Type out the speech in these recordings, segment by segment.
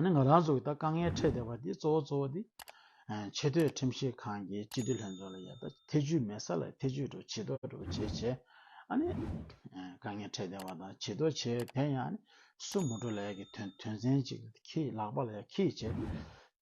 ང་རང་ཚོ་ད་དཀའ་ངལ་འཕྲད་བསྡད་པ་འདི་གཙོ་བོ་གཙོ་བོ་འདི། ཆེས་མཐོའི་ཁྲིམས་ཞིབ་ཁང་གི་སྤྱི་འཐུས་ལྷན་ཚོགས་ལ་ཡང་ད་ཐེ་བྱུས་མེད་ས་ལ་ཐེ་བྱུས་འགྲོ་བྱེད་དོགས་འགྲོ་བྱེད་བྱེད། ཨ་ནི། དཀའ་ངལ་འཕྲད་བསྡད་པ་དང་བྱེད་དོགས་བྱེད་དེ་ཡང་ཨ་ནི། སུ་མོ་འགྲོ་ལས་ཀྱི་དོན་དོན་ཚན་གཅིག་གིས་ལག་པ་ལ་ཡང་ཁིས་བྱེད།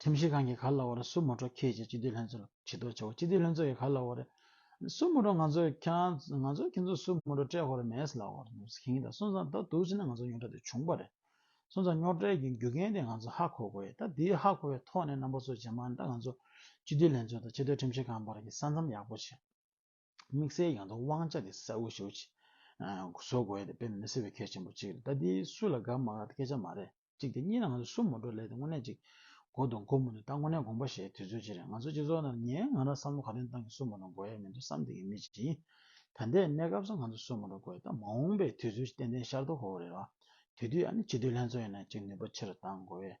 ཁྲིམས་ཞིབ་ཁང་གི་ག་ལ་བར་སུ་མོ་འགྲོ་ཁྱེད་ཀྱིས་སྤྱི་འཐུས་ལྷན་ཚོགས་ལ་ཇི་ལྟར་བྱ་བ་སྤྱི་འཐུས་ལྷན་ཚོགས་ཀྱི་ག་ལ་བར་སུ་མོ་འགྲོ་ང་ཚོ་ཁྱང་ང་ཚོ་ཁྱེད་ཚོ་སུ་མོ་འགྲོ་སྤྲད་ཧོར་མེད་ལ་བར་འདུག་ཟེར་གྱིན་ད་སོང་ཙང་ད་འདུག་ཟེར་ན་ང་ཚོ་ཉོག་དྲ་དེ་བྱུང་པ་རེད་སོང་ཙང་ཉོག་དྲའི་རྒྱུ་རྐྱེན་དེ་ང་ཚོ་ཧ་གོ་དགོས་ཡོད་ད་དེའི་ཧ་གོ་བའི་ཐོག་ནས་རྣམ་པ་ཚོ་ཇེ་མང་དང་ང་ཚོ་སྤྱི་འཐུས་ལྷན་ཚོགས་དང་ཆེས་མཐོའི་ཁྲིམས་ཞིབ་ཁང་བར་གྱི་ས་མཚམས་ཡག་པོ་བྱེད་དམིགས་བསལ་ཡང་དུ་དབང་ཆ་དེ་ས་དབུ་ཞུགས་བྱེད་བཟོ་དགོས་ཡོད་དེ་དཔེ་མི་སྲིད་པའི་གལ་ཆེན་པོ་གཅིག་རེད་ད་དེ་སུ་ལ་དགའ་མ་དགའ་དེ་སྐད་ཆ་མ་རེད། གཅིག་དེ་གཉིས་ལ་ང་ཚོ་སུ་མོ་འགྲོ་ལེ་དེ་དངོས་གནས་ཅིག་གོ་དང་གོ་མོ་ནི་ད་དངོས་གནས་དགོངས་པ་བཞེས་དུས་ཚོད་ཅིག་རེད་ང་ཚོ་སྤྱི་ཚོགས་ནང་ངའི་ང་རང་བསམ་བློ་ག་རེ་བཏང་གི་སུ་མོ་དང་གོ་ཡས་མི་འདུག་བསམ་སྟེ་གི་མི་ཅིག་ཡིན་ད་ལྟའི་གནས་སྐབས་སུ་ང་ཚོ་སུ་མོ་འགྲོ་གོ་ཡས་ད་མ་འོངས་པའི་དུས་ཚོད་ཅིག་ཏན་ཏན་ཤར་དུ་ཧོ་རེད་བ་དེ་དུས་ཨ་ནི་སྤྱི་འཐུས་ལྷན་ཚོགས་ཡིན་ན་ཅིག་ནུས་པ་ཆེ་རུ་བཏང་གོ་ཡས་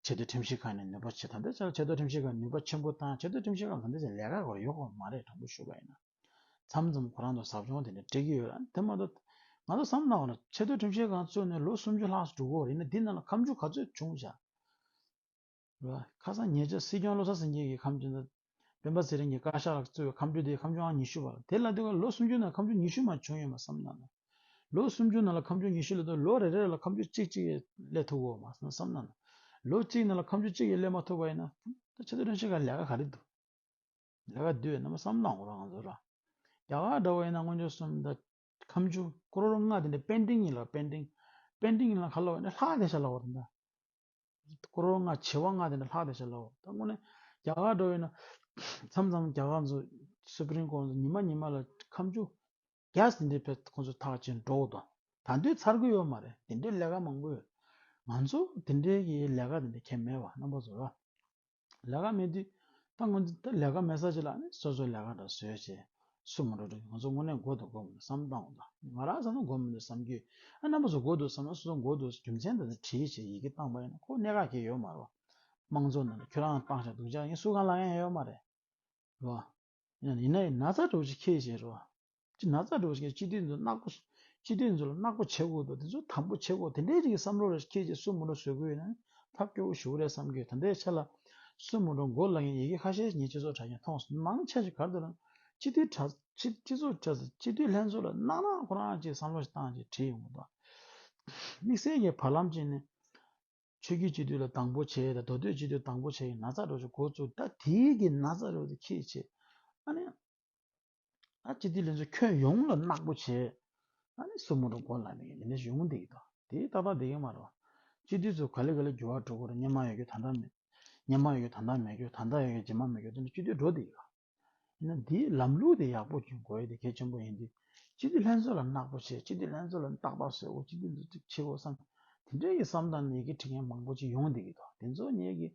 ཆེ་བསྟོད་ཁྲིམས་ཞིབ་ཁང་ནས་ནུས་པ་ཆེ་ད་ལྟའི་ཆར་ཆེ་བསྟོད་ཁྲིམས་ཞིབ་ཁང་ནུས་པ་ཆེན་པོ་བཏང་ཆེ་བསྟོད་ཁྲིམས་ཞིབ་ཁང་ལ་ད་ལྟའི་ཆར་ལས་ཀ་གོ་རེ་ཡོད་ཁོ་མ་རེད་དྲང་པོ་ཞུ་བ་ཡིན་ན། མཚམས་མཚམས་ཁོ་རང་ཚོ་ཟབ་སྦྱོང་དེ་འདྲ་སྤྲད་ཀྱི་ཡོད་ར་དེ་མ་གཏོགས། ང་ཚོ་བསམ་བླང་བ་ལ་ཆེ་བསྟོད་ཁྲིམས་བཤད་གང་རྩོད་ནས་ལོ་སུམ་ཅུ་ལྷག་སུ་འགྲོ་གི་ཡིན་ན་འདི་རྣམས་ལ་ཁམས་ཆུ་ག་ཚོད་བྱུང་བྱ། རེད་པ། ཁ་སང་ཉེ་ཆར་སྲིད་སྐྱོང་བློ་བཟང་སེང་གེ་ཡིས་ཁམས་ཆུ་ཟླ། སྤེན་པ་ཚེ་རིང་གིས་བཀའ་ཤག་ལ་སྩོལ་བའི་ཁམས་ཆུ་དེའི་ཁམས་ཆུའང་ཉི་ཤུ་བ་ལ་དེ་ལ་དེ་ག་ལོ་སུམ་ཅུ་ནང་ཁམས་ཆུ་ཉི་ཤུ་མ་བྱུང་ཡོད་མ་བསམ་ན། ལོ་སུམ་ཅུ་ནང་ལ་ཁམས་ཆུ་ཉི་ཤུ་སླེ་ཐུབ་ལོ་རེ་རེ་ལ་ཁམས་ཆུ་གཅིག་གཅིག་སླེ་ཐུབ་གོ་མ་བསམ་ན། ལོ་གཅིག་ནང་ལ་ཁམས་ཆུ་གཅིག་ཡས་སླེ་མ་ཐུབ་པ་ཡིན་ན། ཆེ་བསྟོད་ཁྲིམས་བཤད་ག་ལས་ཀ་ག་རེ་འདུག། ལས་ཀ་སྡོད་རྣམས་སམ་བླང་བར་འང་ཟོ། རྒྱ་གར་འདྲ་བ་ཡིན་ན་སྔོན་བྱོན་སུམ་བརྒྱ། ཁམས་བཅུ་ཀོ་རོར་ལྔ་དེ་ནས་པད་འབྲིང་ཡིན་ལ་པད་འབྲིང། པད་འབྲིང་ཡིན་ལ་ཁ་ལོ་བ་ནི་ལྷག་བདེ་བྱ་ལ་བ་དང། ཀོ་རོར་ལྔ་བྱེ་བ་ལྔ་དེ་ནས་ལྷག་བདེ་བྱ་ལ་བ་དང་སྔོན་ནས། རྒྱ་གར་འདྲ་བ་ཡིན་ན། མཚམས་མཚམས་རྒྱ་གར་ཟོ། Supreme Court ཉི་མ་ཉི་མ་ལ་ཁམས་བཅུ། Guest འདི་ཕེབས་ཁོ་ཚོ་ཐག་བཅད་འགྲོ་བ་དང། ད་འདོད་ཚར་གི་ཡོད་མ་རེད་དེ་འདྲའི་ལས་ཀ་མང་པོ་ཡོད། ང་ཚོ་དེ་འདྲའི་གི་ལས་ཀ་དེ་འདྲ་ཁྱད་མེད་བ་རྣམ་པ་ཟོ། ལས་ཀ་མེད་དུས་ད་ང་ཚོ་ལས་ཀ་མེད་ས་ཅི་ལ་ནི་སོ་སོའི་ལས་ཀ་འདྲ་བཟོས་བྱས་སུ་མ་འགྲོ་དྲུག་ང་ཚོ་དངོས་གནས་མགོ་འདོགས་དགོས་མིན་བསམ་བཏང་བ་དང་ང་རང་བསམ་ན་མགོ་མི་འདོགས་བསམ་རྒྱུ་ཡིན་ཨ་རྣམ་པ་ཚོ་མགོ་འདོགས་བསམ་ན་སོ་སོ་མགོ་འདོགས་རྒྱུ་མཚན་དང་དྲིས་ཆེ་ཡིས་ཀྱིས་བཏང་པ་ཡིན་ན་ཁོ་གནད་འགག་གི་ཡོད་མ་རེད་བ། དམངས་གཙོ་ནང་ཁྱོད་རང་བཏང་ཤག་སྡུག་ཅག་ཡིན་སུ་གང་ལ་ཡང་ཡོད་མ་རེད་བ། ཡིན་ན་ཡིན་ན་ཚ་གྲོགས་ཅིག་ཁྱེད་བཞིན་རོ། ཅི་ན་ཚ་གྲོགས་ཅིག་སྤྱི་འཐུས་འཛུགས་ནག་པོ། སྤྱི་འཐུས་འཛུགས་ལ་ནག་པོ་བྱེད་དགོས་འདུག་དེ་ཚོ་དམ་པོ་བྱེད་དགོས་དེ་འདྲའི་རིགས་ཀྱི་བསམ་བློ་རེ་ཁྱེད་ཀྱིས་གསུང་མུ་འགྲོ་བཟོས་དགོས་ཡོད་ན་ཐབས་སྐྱོ་བོ་ཞུ་གི་རེད་བསམ་གི་ཡོད་དེ་འདྲའི་ཆ་ལ། གསུང་མུ་འགྲོ་མགོ་བསླ་མཁན་ཡི་གེ་ཁ་ཤས་ཉིད་སྤྱི་ཚོགས་དྲ་ཞིག་མཐོང་སོང་མང་ཆེ་ཞིག་གར་འདུག་ན། སྤྱི་འཐུས་དྲ། སྤྱི་ཚོགས་དྲ། སྤྱི་འཐུས་ལྷན་ཚོགས་ལ་གནང་ན་ཁོ་རང་ཅིག་བསམ་བློ་ཞིག་བཏང་ཅིག་བྲིས་ཡོང་གི་འདུག་དམིགས་བསལ་གྱི་བར་ལམ་ཅིག་ནས། ཆོས་རྒྱུད་སྤྱི་འཐུས་ལ་དང་པོ་བྱས་དང་མདོ་སྟོད་སྤྱི་འཐུས་དང་པོ་བྱས་ཡིན་ན་ཚ་འགྲོ་ཆུ་འགོ་བཙུགས། ད་དེ་གི་ན་ཚ་རོལ་དུ་ཁྱེད་བྱེད། ཨ་ནི། ད་སྤྱི་འཐུས་ལས་འཛོལ་ཁྱོད་ཡོང་ལ་ནག་པོ་བྱས། ཨ་ནི་སུ་མོ་རུ་འགོ་ལ་མི་ནས་ཡོང་བསྡད་ཡོད་དོ། དེ་ཏག་ཏག་བསྡད་ཀྱི་མ་རོ། སྤྱི་འཐུས་ཚོ་ག་ལེ་ག་ལེ་འགྱུར་བ་འགྲོ་དགོས་ར་སྙན་མ་ཡོད་རྒྱུ་ད་ལྟ་མེད། སྙན་མ་ཡོད་རྒྱུ་ད་ལྟ་མེད་རྒྱུ་ད་ལྟ་ཡོད་རྒྱུ་ཇི་མ་མེད་རྒྱུ་དེ་ནི་སྤྱི་འཐུས་འགྲོ་བསྡད་ཡོད། ཡིན་ན་དེའི་ལམ་ལུགས་དེ་ཡག་པོ་འཇོན་དགོས་དེ་གལ་ཆེན་པོ་ཡིན་ཏེ། སྤྱི་བདེ་ལྷན་ཚོགས་ལ་བརྣག་པོ་བྱེད་སྤྱི་བདེ་ལྷན་ཚོགས་ལ་ནི་ཏག་ཏག་བཟོས་འོ་སྤྱི་བདེ་འཛུགས་སྐྲུན་བྱེད་འོ་བསམ། དེ་འདྲའི་ཡི་བསམ་དང་ནད་ཀྱི་དྲི་ངན་མང་པོ་ཅི་ཡོང་སྡིག་གི་དོགས་དེ་ཚོ་ཉེས་ཀྱི།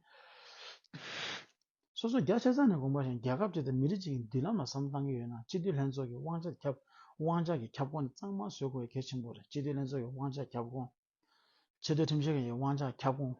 སོ་སོ་རྒྱ་ཆེ་ས་ནས་དགོངས་པ་བཞིན་རྒྱལ་ཁབ་ཅིག་དང་མི་རིགས་ཅིག་གི་མདུན་ལམ་ལ་བསམ་བཏང་གི་ཡོད་ན་སྤྱི་བདེ་ལྷན་ཚོགས་ཀྱི་དབང་ཆ་ཁྱབ་དབང་ཆ་གི་ཁྱབ་ཁོངས་དེ་གཙང་མ་བཟོས་དགོས་གལ་ཆེན་པོ་རེད་སྤྱི་བདེ་ལྷན་ཚོགས་ཀྱི་དབང་ཆ་ཁྱབ་ཁོངས། ཆེས་མཐོའི་ཁྲིམས་ཞིབ་ཁང་གི་དབང་ཆ་ཁྱབ་ཁོངས།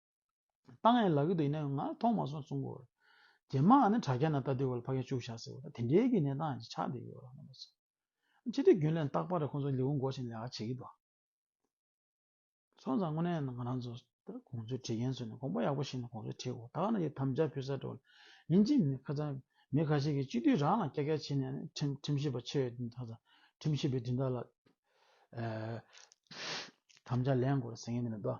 བཏང་ཡང་ལག་གི་དུ་ཡིན་ན་ཡང་ང་མཐོང་མ་སོང་གསུང་གོ། རྗེས་མ་ནི་དྲ་རྒྱ་ན་ལྟ་དུས་གོ་ལ་ཕ་གིན་བཅུག་བཞག་ཟེར་བ་དང་དེ་འདྲའི་གི་གནས་སྟངས་ཤིག་ཆགས་བསྡད་ཡོད་རང་ངོ་སོང། སྤྱི་འཐུས་རྒྱུན་ལས་རྟག་པར་ཁོང་ཚོ་ལེའུ་འགོ་བཞིན་ལས་ཀ་བྱེད་གི་འདུག་སོང་ཙང་དངོས་གནས་ང་རང་ཚོ་ད་ཁོང་ཚོའི་བྲིས་མཁན་ཚོ་ནི་དགོངས་པ་ཡག་པོ་ཞིག་ནི་ཁོང་ཚོས་བྲིས་གོ་ད་ག་ནས་ཀྱི་དམ་བཅའ་ཕུལ་ས་འགྲོ་ལེན་ཅིག་མི་ཁ་ཚང་མི་ཁ་ཤས་ཀྱིས་སྤྱི་འཐུས་རང་ལ་སྐྱ་སྐྱ་བྱས་ནས་ནི་ཁྲིམས་ཁྲིམས་ཞིབ་པ་ཆེ་བའི་དེ་ཚོ་ཁྲིམས་ཞིབ་པའི་དེ་དག་ལ་དམ་བཅའ་ལེན་དགོས་རེད་ཟེར་མཁན་དེ་འདྲ་འདུག་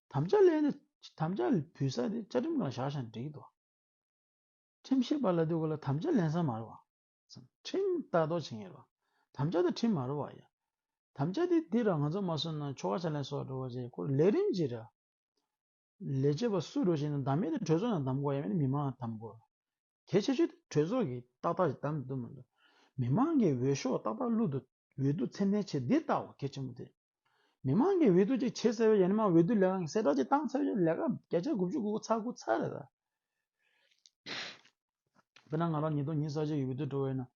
དམ་བཅའ་ལས་ནི་དམ་བཅའ་བུད་ས་དེ་བཅའ་ཁྲིམས་ལ་བཞག་ཞིང་འགྲིག་དོ། ཁྲིམས་ཤེས་པ་ལ་དུས་གོ་ལ་དམ་བཅའ་ལེན་ས་མ་རེད་བ། ཁྲིམས་ལྟ་རྟོག་བྱེད་མཁན་རེད་བ། དམ་བཅའ་དང་ཁྲིམས་མ་རེད་བ་ཡ། དམ་བཅའ་དེ་འདི་ར་ང་ཚོ་མ་བཟོས་ན་ཆོ་ག་བྱ་ལེན་སོགས་འགྲོ་བ་ཆེ་ཁོར་ལས་རིམ་གྱི་ར། ལས་བྱེད་པ་སུ་འགྲོ་ཞིག་ན་བདམས་མེད་དེ་གྲོས་ཚོགས་ནང་བདམས་དགོ་ཡ་མེད་ན་མི་མང་ལ་བདམས་དགོ། གལ་ཆེ་ཤོས་དེ་གྲོས་ཚོགས་ཀྱི་ཏག་ཏག་ཅིག་བདམས་ཐུབ་མི་འདུག་མི་མང་གི་འོས་ཤོག་ཏག་ཏག་བླུག་འདུག་འོས་བསྡུ་ཚད་མའི་ཆེད་འདི་ལྟ་བུ་གལ་ཆེན་པོ་དེ་རེད། མི་མང་གིས་འོས་བསྡུ་ཅིག་བྱེད་ཟེར་བའི་ཡ་ནི་མ་འོས་བསྡུ་ལས་ཀ་གསལ་བསྒྲགས་ཅིག་བཏང་ཟེར་བའི་ལས་ཀ་བརྒྱ་ཆ་དགུ་བཅུ་དགུ་ཚར་དགུ་ཚར་རེད་ད། དཔེར་ན་ང་རང་ཉིད་དོན་སྙིང་གསར་བརྗེ་ཡི་འོས་བསྡུར་འགྲོ་བ་ཡིན་ན།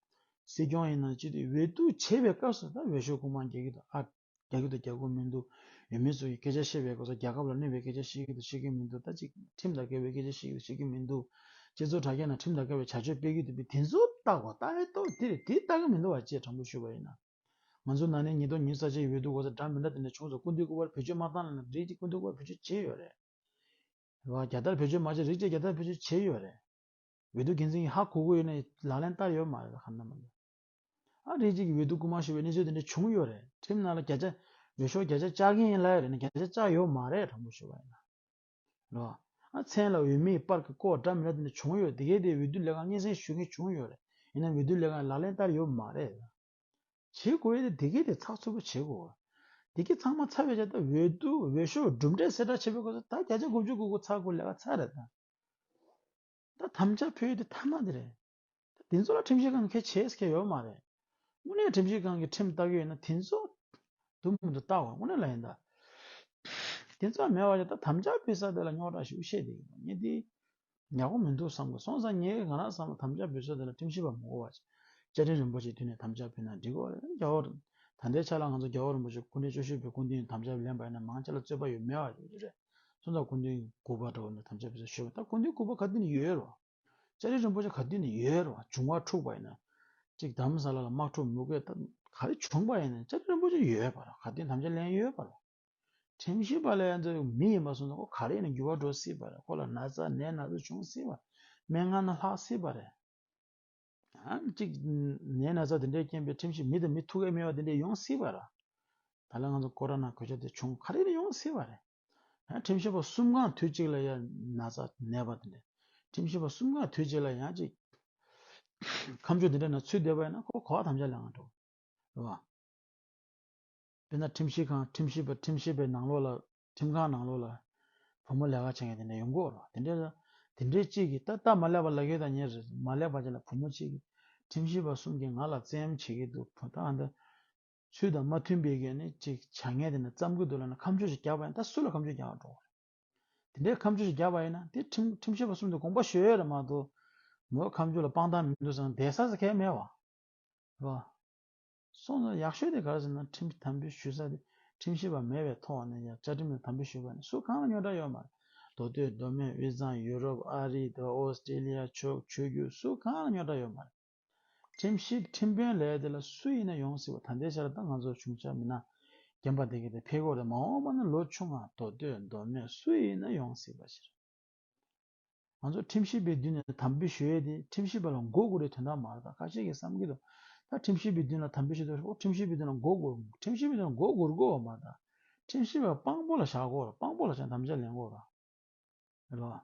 སྲིད་སྐྱོང་ཡིན་ན་ཅི་སྟེ་འོས་བསྡུ་བྱེད་པའི་སྐབས་སུ་ད་འོས་ཤོག་དགུ་མང་རྒྱག་གི་འདུག་ཨ། རྒྱ་ཁྱི་དང་རྒྱ་ཁུ་མི་འདུག་ཡོད་མེད་སོགས་ཀྱི་སྐད་ཆ་བཤད་པའི་སྐོར་ས་རྒྱ་ཁབ་ལ་གནོད་པའི་སྐད་ཆ་བཤད་ཀྱི་དང་བཤད་ཀྱི་མི་འདུག་ད་ཅིག་ཁྲིམས་དང་འགལ་བའི་སྐད་ཆ་བཤད་ཀྱི་དང་བཤད་ཀྱི་མི་འདུག་སྤྱི་ཚོགས་དྲ་རྒྱ་ནང་ཁྲིམས་དང་འགལ་བའི་བྱ་སྤྱོད་སྤེལ་གྱི་འདུག་པས་དེ་ཚོ་ལྟ་གོ་ལྟ་རེ་ལྟོས་དེ་རེ་དེ་ལྟ་གི་མི་འདུག་བ་བཅས་དྲང་པོ་ཞུ་བ་ཡིན། ང་ཚོ་ནང་ནས་ཉིས་ཐོག་ཉིས་གསར་བྱས་ཡོད་འདུག་གོ་ས་འདྲ་མི་འདྲ་དེ་འདྲ་བྱུང་སོང་སྐུ་མདུན་སྐུ་པར་བེད་སྤྱོད་མ་བཏང་ལ་ན་རེ་སྐུ་མདུན་སྐུ་པར་བེད་སྤྱོད་བྱས་ཡོད་རེད། བ་རྒྱ་དར་བེད་སྤྱོད་མ་བྱས་རིགས་བཅས་རྒྱ་དར་བེད་སྤྱོད་བྱས་ཡོད་རེད། འོས་བསྡུ་འགན་འཛིན་གྱི་ཧ་གོ་གོ་ཡོད་ནའི་ལག་ལེན་བསྟར་ཡོད་མ་རེད་ག་ནམ་མ་རེད། ཨ་རིའི་གཅིག་གི་འོས་བསྡུ་སྐུལ་མ་ཞུ་བའི་གནས་ཚུལ་དེ་འདྲ་བྱུང་ཡོད་རེད་ཁྲིམས་ནང་ལ་བརྒྱ་ཆ་འོས་ཤོག་བརྒྱ་ཆ་བཅའ་མཁན་ཡིན་ལ་ཡོད་རེད་ན་བརྒྱ་ཆ་བཅའ་ཡོད་མ་རེད་དྲང་པོ་ཞུ་བ་ཡིན་ན་རེད། ཨ་མཚན་ལ་འོས་མིའི་པར་གྱི་བསྐོར་བསྒྲགས་མི་འདྲ་དེ་འདྲ་བྱུང་ཡོད་དེ་གའི་དེའི་འོས་བསྡུ་ལས་ཁང་སྙན་སེང་ཞུ་མཁན་བྱུང་ཡོད་རེད་ཡིན་ནའང་འོས་བསྡུ་ལས་ཁང་ལག་ལེན་བསྟར་ཡོད་མ་རེད། བྱེད་དགོས་ཡོད་དེ་དེ་གའི་དེ་ཚགས་ཚུད་པོ་བྱེད་དགོས། དེ་གའི་ཚང་མ་ཚར་བའི་ཆ་ད་འོས་བསྡུ་འོས་ཤོག་གྲུབ་འབྲས་གསལ་བསྒྲགས་བྱེད་པའི་སྐོར་ཚོད་ད་བརྒྱ་ཆ་དགུ་བཅུ་དགུ་དགུ་ཚར་དགོས་ལས་ཀ་ཚར་རེད་ད། ད་དམ་བཅའ་ཕུལ་ཡོད་དེ་ཐ་མ་དེ་རེད། ད་དེ་ཚོ་ལ་ཁྲིམས་ཞིབ་ཁང་གིས་ཁས་འཆེས་སྐད་ཡོད་མ་རེད། དངོས་གནས་ཁྲིམས་ཞིབ་ཁང་གིས་ཁྲིམས་བལྟ་གི་ཡོད་ན་དེ་ཚོ་དུམ་བུར་འདུག་བལྟ་བ་དངོས་གནས་ལ་ཡིན་ད། དེ་ཚོ་མེད་བ་ཡོད་ད་དམ་བཅའ་འབུལ་ས་དེ་ལ་རྙོག་དྲ་ཞུགས་བཤད་དེ་ཡིན་ད་ངས་དེ་ཡག་པོ་མི་འདུག་བསམ་གི་སོང་ས་ངས་ང་རང་བསམ་ན་དམ་བཅའ་འབུལ་ས་དེ་ལ་ཁྲིམས་ཞིབ་པ་མི་གོ་བ་བྱ་བྱ་ཁྲིན་རིན་པོ་ཆེའི་དུས་ནས་དམ་བཅའ་འབུལ་ན་འགྲིག་གོ་རེད་རྒྱ་བོད། ད་ལྟའི་ཆ་ལ་ང་ཚོ་རྒྱ་བོད་རིན་པོ་ཆེ་སྐུ་འཕྲེང་བཅུ་བཞི་པའི་སྐུ་མདུན་དམ་བཅའ་ལེན་པ་ཡིན་ན་མང་ཆེ་ལ་རྩོད་པ་ཡོད་མེད་བ་ཞུ་རྒྱུ་རེད་སོང་ད་སྐུ་མདུན་དགུ་པ་འགྲོ་བ་མིར་དམ་བཅའ་འབུལ་ས་ཞུས་པ་ད་སྐུ་མདུན་དགུ་པ་ག་དུས་ནས་ཡོད་རོགས། ལྕགས་རི་རིན་པོ་ཆེ་ག་དུས་ནས་ཡོད་རུང་བྱུང་བ་འཁྲུགས་པ་ཡིན་ན་གཅིག་དམ་ས་ལ་ལ་དམག་འཁྲུགས་མུ་གེ་ག་རེ་བྱུང་བ་ཡིན་ན་ལྕགས་རི་རིན་པོ་ཆེ་ཡོད་པ་ར་ག་དུས་དམ་བཅའ་ལེན་ཡོད་པ་ར་ཁྲིམས་ཞིབ་པ་ལས་འཛོལ་བའི་མི་ཡིན་པ་སོང་ན་ཁོ་ག་རེ་ཡིན་ན་འགྱུར་བ་འགྲོ་སྲིད་པ་རེད་ཁོ་ལ་ན་ཚ་ནད་སྣ་ཚོགས་བྱུང་སྲིད་པ་མན་ངག་ན་ལྷག་སྲིད་པ་རེད། གཅིག་ནད་ན་ཚ་དེ་འདྲའི་རྐྱེན་པས་ཁྲིམས་ཞིབ་མི་དང་མི་ཐུག་ཡ་མེད་པ་དེ་འདྲས་ཡོང་སྲིད་པ་ར་ད་ལ་ང་ཚོ་ཀོ་ར་ན་གོད་ཆག་དེ་བྱུང་ག་རེ་ཡིན་ན་ཡོང་སྲིད་པ་རེད། ཁྲིམས་ཞིབ་པ་གསུམ་གང་དུས་གཅིག་ལ་ཡང་ན་ཚ་ནད་པ་དེ་ལས་ཁྲིམས་ཞིབ་པ་གསུམ་གང་དུས་གཅིག་ལ་ཡང་ཅིག། ཁམས་ཕྱོགས་འདི་འདྲ་ན་ཚུལ་འདེབས་པ་ཡིན་ན་ཁོ་གོ་བ་ཐམས་ཅད་ལས་འང་འགྲོ། རེད་བ། དཔེར་ན་ཁྲིམས་ཞིབ་ཁང་ཁྲིམས་ཞིབ་པ་ཁྲིམས་ཞིབ་པའི་ནང་ལོགས་ལ་ཁྲིམས་ཁང་ནང་ལོགས་ལ་བུ་མོ་ལས་ཀ་བྱེད་མཁན་དེ་འདྲ་ཡོང་དགོས་རོ་དེ་འདྲས་དེ་འདྲས་གཅིག་གིས་ཏག་ཏག་མ་ལེགས་པ་ལག་ཁྱེར་དང་ཉེ་རེ་མ་ལེགས་པ་བྱས་ལ་བུ་མོ་གཅིག་གིས་ཁྲིམས་ཞིབ་པ་གསུམ་གྱིས་ང་ལ་བཙན་གཡེམ་བྱེད་ཀྱི་འདུག་བུ་དག་འདི། ཚུལ་དང་མ་མཐུན་པའི་གན་ནི་ཅིག་བྱ་ངན་དེ་ནི་བརྩམ་དགོས་འདུག་ལ་ན་ཁམས་ཆོས་ཞིག་རྒྱག་པ་ཡིན་ད་སུ་ལ་ཁམས་ཆོས་རྒྱག་འགྲོ་བ་རེད་དེ་འདྲའི་ཁམས་ཆོས་ཞིག་རྒྱག་པ་ཡིན་ན་དེ་ཁྲིམས་ཁྲིམས་ཤེས་པ་གསུམ་དུ་དགོངས་པ་ཞུ་ཡོད་རེད་མ་གཏོགས་མོའི་ཁམས་ཆོས་ལ་དཔང་རྟགས་མི་འདུག་ཟེར་ན་འད་ས་ཟེར་ཁས་མེད་བ་རེད་བ། སོང་ཟེར་ཡག་ཤོས་དེ་ག་རེ་ཟེར་ན་ཁྲིམས་དམ་འབུལ་ཞུ་ས་དེ་ཁྲིམས་ཤེས་པ་མེད་པའི་ཐོག་ནས་ཡང་བཅའ་ཁྲིམས་ལ་དམ་འབུལ་ཞུ་བ་ནི་སུ་གང་ལ་ཉོ་གྲ་ཡོད་མ་རེད་མདོ་སྟོད་མདོ་སྨད་དབུས་གཙང་ཡུ་རོབ་ཨ་རི་དོ་ཨོ་སི་ཏྲེ་ལི་ཡ་ཕྱོགས་ཆོས་བརྒྱུད་སུ་གང་ལ་ཉོ་གྲ་ཡོད་མ་རེད། ཁྲིམས་ཤིག་ཁྲིམས་དཔོན་ལས་དེ་ལ་སུ་ཡིན་ན་ཡོང་སྲིད་པ་ད་ལྟའི་ཆར་ད་ང་ཚོར་བྱུང་ཆ་མིན་ན་རྒན་པ་དེ་ག་དེ་ཕེ་གོ་རེད་མ་འོངས་པ་ན་ལོ་ཆུང་ང་མདོ་སྟོད་མདོ་སྨད་སུ་ཡིན་ན་ཡོང་སྲིད་པ་ཞིག་རེད། ང་ཚོ་ཁྲིམས་ཞིབ་པའི་མདུན་ནས་དམ་འབུལ་ཞུས་ཏེ་ཁྲིམས་ཞིབ་པ་ལ་མགོ་སྒུར་བའི་དོན་དག་མ་རེད་ད་ཁ་ཤས་ཀྱིས་བསམ་གྱི་འདུག་ད་ཁྲིམས་ཞིབ་པའི་མདུན་ལ་དམ་འབུལ་ཞུས་ཏེ་ཨོ་ཁྲིམས་ཞིབ་པའི་མདུན་ལ་མགོ་སྒུར་ཁྲིམས་ཞིབ་པའི་མདུན་ལ་མགོ་སྒུར་དགོས་བ་མ་རེད་ད་ཁྲིམས་ཞིབ་པ་དཔང་པོ་ལ་བཞག་དགོས་རེད་དཔང་པོ་ལ་བཞག་དམ་བཅའ་ལེན་དགོས་རེད།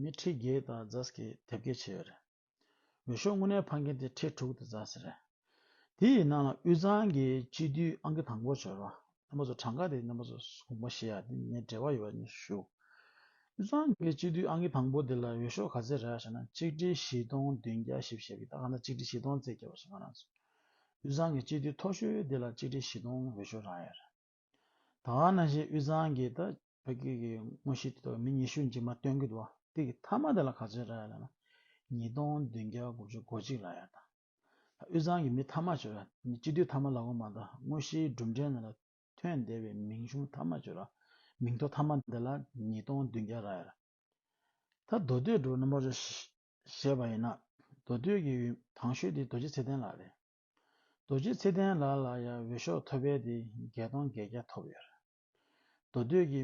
མི་ཁྲི་བརྒྱད་དང་རྫ་ཟི་ཁའི་དེབ་སྐྱེལ་བྱས་རེད། འོས་ཤོག་དངོས་གནས་འཕངས་མཁན་དེ་ཁྲི་དྲུག་དང་རྫ་ཟི་རེད། དེ་ཡི་ནང་ལ་དབུས་གཙང་གི་སྤྱི་འཐུས་ཨང་ཀི་དང་པོར་བྱོན་རོགས། རྣམ་པ་ཚོ་གྲངས་ཀ་དེ་རྣམ་པ་ཚོ་གོང་མ་ཞེས་ཡ་དེ་ངས་འབྲེལ་བ་ཡོད་པ་ནས་ཞུ། དབུས་གཙང་གི་སྤྱི་འཐུས་ཨང་ཀི་དང་པོ་དེ་ལ་འོས་ཤོག་ག་ཚད་རག་ཞེ་ན་གཅིག་ཁྲི་བཞི་སྟོང་བདུན་བརྒྱ་བཞི་བཞི་བཞི་ད་ག་ན་གཅིག་ཁྲི་བཞི་སྟོང་བརྩེགས་བརྒྱ་བ་ཞིག་ང་རང་ཚོ་དབུས་གཙང་གི་སྤྱི་འཐུས་མཐོ་ཤོས་དེ་ལ་གཅིག་ཁྲི་བཞི་སྟོང་འོས་ཤོག་རག་ཡ་རེད། ད་ང་ན་ཞེས་དབུས་གཙང་གི་ད་ཕ་སྐད་ཀྱི་དངོས་གཞི་དེ་དག་མི་ཉི་ཤུ་མཇི་མ་སྟོན་སྐུད་བ་སྟེ་གི་ཐ་མ་དེ་ལ་ག་ཚོད་ར་ཡ་ལ་ན་ཉིས་སྟོང་བདུན་བརྒྱ་དགུ་བཅུ་གོ་གཅིག་ལ་ཡ་ད་དབུས་གཙང་གི་མི་ཐ་མ་བྱོས་ར་མི་སྤྱི་འཐུས་ཐ་མ་ལ་གོ་མ་ད་དངོས་གཞི་སྒྲུབ་འབྲས་ན་ལ་ཐོན་བསྡད་བའི་མིང་གཞུང་ཐ་མ་བྱོས་ར་མིང་ཐོ་ཐ་མ་དེ་ལ་ཉིས་སྟོང་བདུན་བརྒྱ་ར་ཡ་ར་ད་མདོ་སྟོད་འགྲོ་ན་མོ་ར་ཞེས་བ་ཡིན་ན་མདོ་སྟོད་ཀྱི་ཡུལ་དྭང་ཤོད་དེ་རྡོ་རྗེ་ཚེ་བརྟན་ལགས་རེད། རྡོ་རྗེ་ཚེ་བརྟན་ལགས་ལ་ཡང་འོས་ཤོག་ཐོ་བལ་ཏེ་བརྒྱད་སྟོང་བརྒྱད་བརྒྱ་ཐོབ་ཡོད། མདོ་སྟོད་ཀྱི་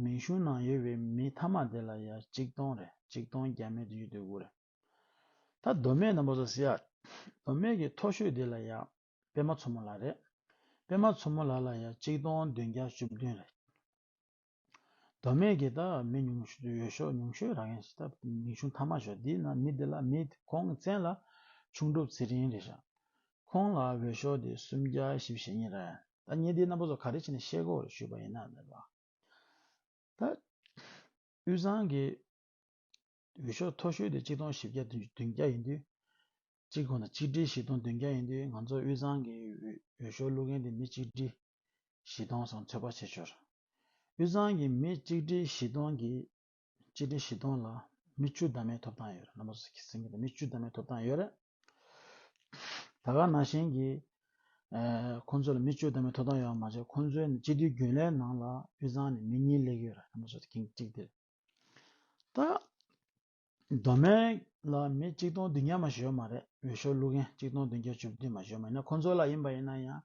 མིང་གཞུང་ནང་ཡོད་པའི་མི་མཐའ་མ་དེ་ལ་ཡང་གཅིག་སྟོང་རེ་གཅིག་སྟོང་བརྒྱ་མེད་དུ་ཡོད་དུས་དགུ་རེ། ད་མདོ་སྨད་ནང་པོ་ཟ་ཟི་ཡག་མདོ་སྨད་ཀྱི་མཐོ་ཤོས་དེ་ལ་ཡང་དཔེ་མ་མཚོ་མོ་ལགས་རེད་དཔེ་མ་མཚོ་མོ་ལགས་ལ་ཡང་གཅིག་སྟོང་བདུན་བརྒྱ་བཅུ་བདུན་རེད། མདོ་སྨད་ཀྱི་དག་མི་ཉུང་ཤོས་དུ་ཡོད་ཤོག་ཉུང་ཤོས་རང་ཡང་ཞེས་ད་མིང་ཆུང་མཐའ་མ་ཞོག་འདི་ན་མི་འདི་ལ་མི་དེ་ཁོང་བཙན་ལ་ཆུང་གྲུབ་ཚེ་རིང་རེད་ཤག་ཁོང་ལ་འོས་ཤོག་དེ་སུམ་བརྒྱ་བཞི་བཞི་གཉིས་རེད་ད་ངས་འདིའི་རྣམ་པ་ཚོ་ག་རེ་བྱས་ནས་ཤེས་སྒོ་རེ་ཞུས་པ་ཡིན་ན་ནས་པ་ད་དབུས་གཙང་གི་འོས་ཤོག་མཐོ་ཤོས་དེ་གཅིག་སྟོང་བཞི་བརྒྱ་བདུན་བརྒྱ་ཡིན་དུས་གཅིག་གོ་ན་གཅིག་ཁྲི་བཞི་སྟོང་བདུན་བརྒྱ་ཡིན་དུས་ང་ཚོ་དབུས་གཙང་གི་འོས་ཤོག་བླུག་མཁན་དེ་མི་གཅིག་ཁྲི་གཞི་གཏོང་སོགས་འཚོལ་བ་བྱེད་ཞོར། དབུས་གཙང་གི་མི་གཅིག་སྒྲིལ་གཞི་གཏོང་གི་གཅིག་སྒྲིལ་གཞི་གཏོང་ལ་མི་བཅུ་ཟླ་མའི་ཐོབ་ཐང་ཡོད། མི་བཅུ་ཟླ་མའི་ཐོབ་ཐང་ཡོད། ད་སྐབས་ནང་བཞིན་གྱི་ཁོང་ཚོ་ལ་མི་བཅུ་ཟླ་མའི་ཐོབ་ཐང་ཡོད་པ་མ་ཟད་ཁོང་ཚོའི་སྤྱི་འཐུས་རྒྱུན་ལས་ནང་ལ་དབུས་གཙང་ནས་མི་གཉིས་སླེབས་ཡོད། ད། མདོ་སྨད་ལ་མི་གཅིག་སྟོང་བདུན་བརྒྱ་མ་ཞོལ་མ་རེད་འོས་ཤོག་བླུག་མཁན་གཅིག་སྟོང་བདུན་བརྒྱ་བཅུ་བདུན་མ་ཞོལ་མ་ཡིན་ན་ཁོང་ཚོ་ལ་ཡིན་པ་ཡིན་ན་ཡང་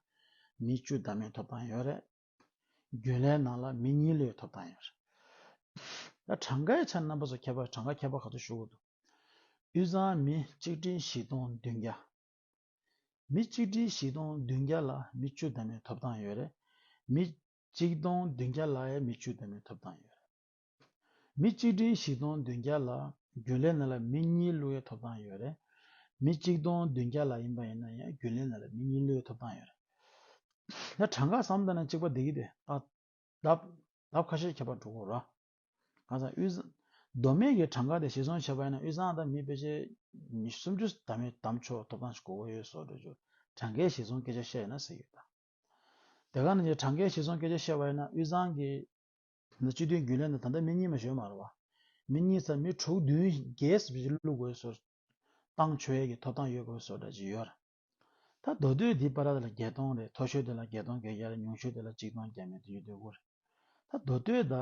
མི་བཅུ་ད་མེད་ཐོབ་ཐང་ཡོད་རེད། རྒྱུན་ལས་ནང་ལ་མི་གཉིས་ལོས་ཐོབ་ཐང་ཡོད་རེད། ད་གྲངས་ཀའི་ཆ་རྣམ་པ་སོགས་ཁྱད་པར་གྲངས་ཀ་ཁྱད་པར་ག་ཚོད་ཞུ་གི་འདུག་དབུས་གཙང་མི་གཅིག་སྒྲིལ་བཞི་སྟོང་བདུན་བརྒྱ། མི་གཅིག་སྒྲིལ་བཞི་སྟོང་བདུན་བརྒྱ་ལ་མི་བཅུ་ད་མེད་ཐོབ་ཐང་ཡོད་རེད། མི་གཅིག་སྟོང་བདུན་བརྒྱ་ལའི་མི་བཅུ་ད་མེད་ཐོབ་ཐང་ཡོད་རེད། མི་གཅིག་སྒྲིན་བཞི་སྟོང་བདུན་བརྒྱ་ལ་རྒྱུན་ལས་ནི་ལ་མི་གཉིས་བླུ་ཡི་ཐོབ་ཐང་ཡོད་རེད། མི་གཅིག་སྟོང་བདུན་བརྒྱ་ལ་ཡིན་པ་ཡིན་ན་ཡང་རྒྱུན་ལས་ནི་ལ་མི་གཉིས་བླུ་ཡི་ཐོབ་ཐང་ཡོད་རེད། ད་གྲངས་ཀ་བསམ་གཏན་ན་གཅིག་པ་འདི་གི་དེ་ལྟ་སྟབས་ལབ་ཁ་ཤས་ཁྱད་པར་འགྲོ་དགོས་ར། གང་ཟག་དབུས་གཟའ། མདོ་སྨད་ཀྱི་གྲངས་ཀ་དེ་ཞིག་བཟུང་བྱས་པ་ཡིན་ན་དབུས་གཟའ་དང་མི་དཔེ་ཆའི་ཉི་སུམ་ཅུ་ད་མི་དམ་ཆོས་ཐོབ་ཐང་ཞིག་གོ་དགོས་ཡོད་སོགས་འགྲོས་འགྱུར་གྲངས་ཀའི་གཞི་བཟུང་སྐད་ཆ་བཤད་ཡོད་ན་ཟེར་གྱི་ཡོད་ད། དེ་ག་ནང་གི་གྲངས་ཀའི་གཞི་བཟུང་སྐད་ཆ་བཤད་པ་ཡིན་ན་དབུས་གཟའ་གི། ན་སྤྱི་དོན་རྒྱུད་ལས་ན་ད་ལྟ་མི་གཉིས་མ་ཞོལ་མར་བ། མི་གཉིས་ཚར་མི་དྲུག་བདུན་བརྒྱད་སུ་བཞི་བླུག་དགོས་སོ། བཏང་ཆོས་ཡས་ཀྱི་ཐོབ་ཐང་ཡོད་དགོས་སོ་འདྲ་ཅི་ཡོད། ད་མདོ་སྟོད་འདི་པ་ར་དེ་ལ་བརྒྱད་སྟོང་རེད་མཐོ་ཤོས་དེ་ལ་བརྒྱད་སྟོང་གྱ་གྱ་རེད་ཉུང་ཤོས་དེ་ལ་གཅིག་སྟོང་གྱ་མེད་དུ་ཡོད་དུས་དགོ་རེད། ད་མདོ་སྟོད་ད་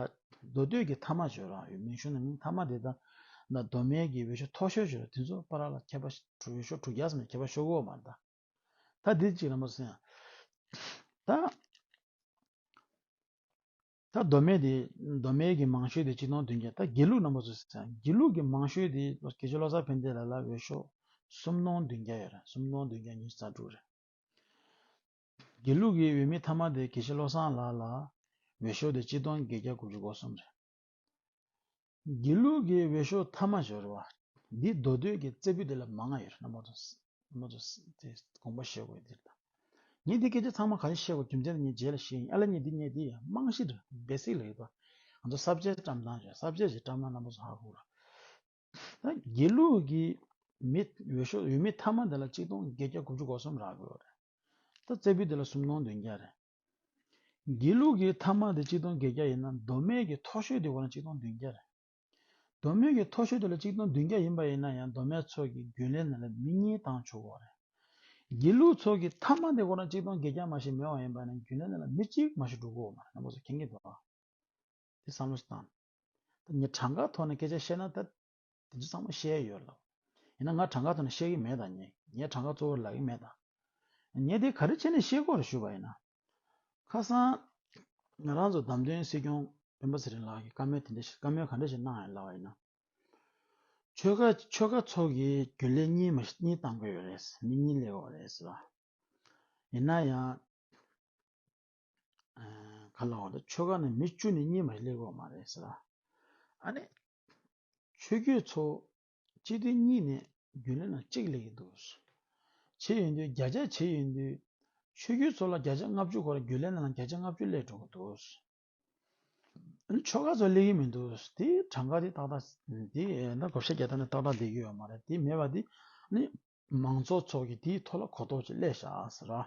མདོ་སྟོད་ཀྱི་མཐའ་མ་ཞོལ་རང་ཡོད་མིང་གཞུང་ན་མིང་མཐའ་མ་དེ་ད་ད་མདོ་སྨད་ཀྱི་འོད་ཤོ་མཐོ་ཤོས་ཞོལ་ར་དེ་ཚོ་པ་ར་ལ་ཁྱད་པ་དྲུག་འོད་ཤོ་དྲུག་བརྒྱ་སམ་ཡང་ཁྱད་པ་ཤོ་གོ་མར་ད། ད་འདི་གཅིག་ར་མ་སོང་ཡང། ད། ད་མདོ་སྨད་དེ་མདོ་སྨད་ཀྱི་མང་ཤོས་དེ་སྤྱི་སྟོང་བདུན་བརྒྱ་ད་དགེ་ལུགས་རྣམ་པ་ཚོ་ཟེར་ཚེ་དགེ་ལུགས་ཀྱི་མང་ཤོས་དེ་དགེ་ཆོས་བློ་གསར་ཕན་བདེ་ལ་ལ་འོས་ཤོག་སུམ་སྟོང་བདུན་བརྒྱ་ཡོད་རེད་སུམ་སྟོང་བདུན་བརྒྱ་ཉིས་རྩ་དྲུག་རེད། དགེ་ལུགས་ཀྱི་འོས་མི་མཐའ་མ་དེ་དགེ་ཆོས་བློ་བཟང་ལགས་ལ་འོས་ཤོག་དེ་སྤྱི་སྟོང་བརྒྱད་བརྒྱ་དགུ་བཅུ་གོ་གསུམ་རེད། དགེ་ལུགས་ཀྱི་འོས་ཤོག་མཐའ་མ་འབྱོར་བ། འདི་མདོ་སྟོད་ཀྱི་རྩེ་ཕུད་དེ་ལ་མ་ང་ཡོད་རེད་མདོ་དགོངས་པ་བཤད་དགོས་འདིར་དང། ངས་འདི་སྐད་ཆ་ཚང་མ་ག་རེ་བཤད་དགོས་རྒྱུ་མཚན་ནི་ངས་རྗེས་ལ་བཤད་ཡིན་ཨ་ལ་ངས་འདི་ངས་འདི་རྨང་གཞིར basic ལ་ཡོད་པ། ང་ཚོ་གསར་བརྗེའི་བཀྲམ་སྟངས་བྱས་གསར་བརྗེ་བྱས་བཀྲམ་ན་རྣམ་པ་ཚོ་ཧ་གོ་ར། དགེ་ལུགས་ཀྱི་མི་འོས་ཤོག་འོས་མི་ཐ་མ་དེ་ལ་གཅིག་སྟོང་བརྒྱད་བརྒྱ་དགུ་བཅུ་གོ་གསུམ་རག་དགོས་རེད། ད་བཙད་པོའི་དེ་ལ་སུམ་སྟོང་བདུན་བརྒྱ་རེད། དགེ་ལུགས་ཀྱི་ཐ་མ་དེ་གཅིག་སྟོང་བརྒྱད་བརྒྱ་ཡིན་ན་མདོ་སྨད་ཀྱི་མཐོ་ཤོས་དེ་འོ་ན་གཅིག་སྟོང་བདུན་བརྒྱ་རེད། མདོ་སྨད་ཀྱི་མཐོ་ཤོས་དེ་ལ་གཅིག་སྟོང་བདུན་བརྒྱ་ཡིན་པ་ཡིན་ན་ཡང་མདོ་སྨད་ཚོགས་ཀྱི་རྒྱུན་ལས་ནང་ལ་མི་གཉིས་དང་བཅུ་བོ་རེད། དགེ་ལུགས་ཚོགས་ཀྱི་ཐ་མ་དེ་འོ་ན་གཅིག་སྟོང་བརྒྱད་བརྒྱ་མ་ཞིག་མེད་བ་ཡིན་པ་ན་རྒྱུན་ལས་ནང་ལ་མི་གཅིག་མ་ཞིག་འགྲོ་དགོས་འོ་མ་རེད། ནང་པ་ཚོ་མཁྱེན་གྱི་འདུག་ག། དེ་བསམ་བློ་ཞིག་བཏང། ད་ངས་གྲངས་ཀ་ཐོག་ནས་སྐད་ཆ་བཤད་ན་ད་དེ་ཚོ་ཚང་མ་བཤད་ཡོད་ལ། ཡིན་ན་ང་གྲངས་ཀ་ཐོག་ནས་བཤད་ཀྱི་མེད་ད་ངས་ངས་གྲངས་ཀ་གཙོ་བོར་ལབ་ཀྱི་མེད་ད། ངས་དེ་ག་རེ་བྱས་ནས་ཤེས་སྒོ་རུ་ཞུས་པ་ཡིན་ན། ཁ་སང་ང་རང་ཚོ་བདམས་ཐོན་སྲིད་སྐྱོང་སྤེན་པ་ཚེ་རིང་ལགས་ཀྱིས་བཀའ་མོལ་དེ་འདྲ་ཞིག་བཀའ་མོལ་ག་འདྲ་ཞིག་གནང་ཡོད་ལབ་པ་ཡིན་ན། ཆོལ་ཁ་ཆོལ་ཁ་ཚོགས་ཀྱི་རྒྱུན་ལས་གཉིས་མ་གཉིས་བཏང་དགོས་ཡོད་རེད། མི་གཉིས་སླེབས་དགོས་པ་རེད་ཟེར་བ། ཡིན་ན་ཡང། ག་ལ་བ་དེ་ཆོལ་ཁ་ནི་མི་བཅུ་ནས་གཉིས་མ་རེད་ལེགས་འོག་མ་རེད་ཟེར་ར། ཨ་ནི། ཆོས་རྒྱུད་ཚོ་སྤྱི་མཐུན་གཉིས་ནས་རྒྱུན་ལས་ན་གཅིག་ལེགས་ཡིན་འདུག། བྱེད་ཡོད་འདུག་རྒྱ་ཆ་བྱེད་ཡོད་འདུག་ཆོས་རྒྱུད་ཚོ་ལ་རྒྱ་ཆ་ལྔ་བཅུ་གོ་ར་རྒྱུན་ལས་ན་ལ་རྒྱ་ཆ་ལྔ་བཅུ་ལེགས་འགྲོ་གི་འདུག། ཨ་ནི་ཆོལ་ཁ་ཚོ་ལེགས་ཡིན་མི་འདུག་དེ་གྲངས་ཀ་དེ་ཏག་ཏག་དེ་ད་གོ་ཤ་རྒྱ་ཐ་ནི་ཏག་ཏག་ལེགས་ཡོད་མ་རེད་དེ་མེད་པ་དེ་ནི་མང་ཚོགས་ཚོ་གི་དེའི་ཐོག་ལ་གོ་རྟོགས་ཅིག་སླེ་བཞག་ཟེར་ར།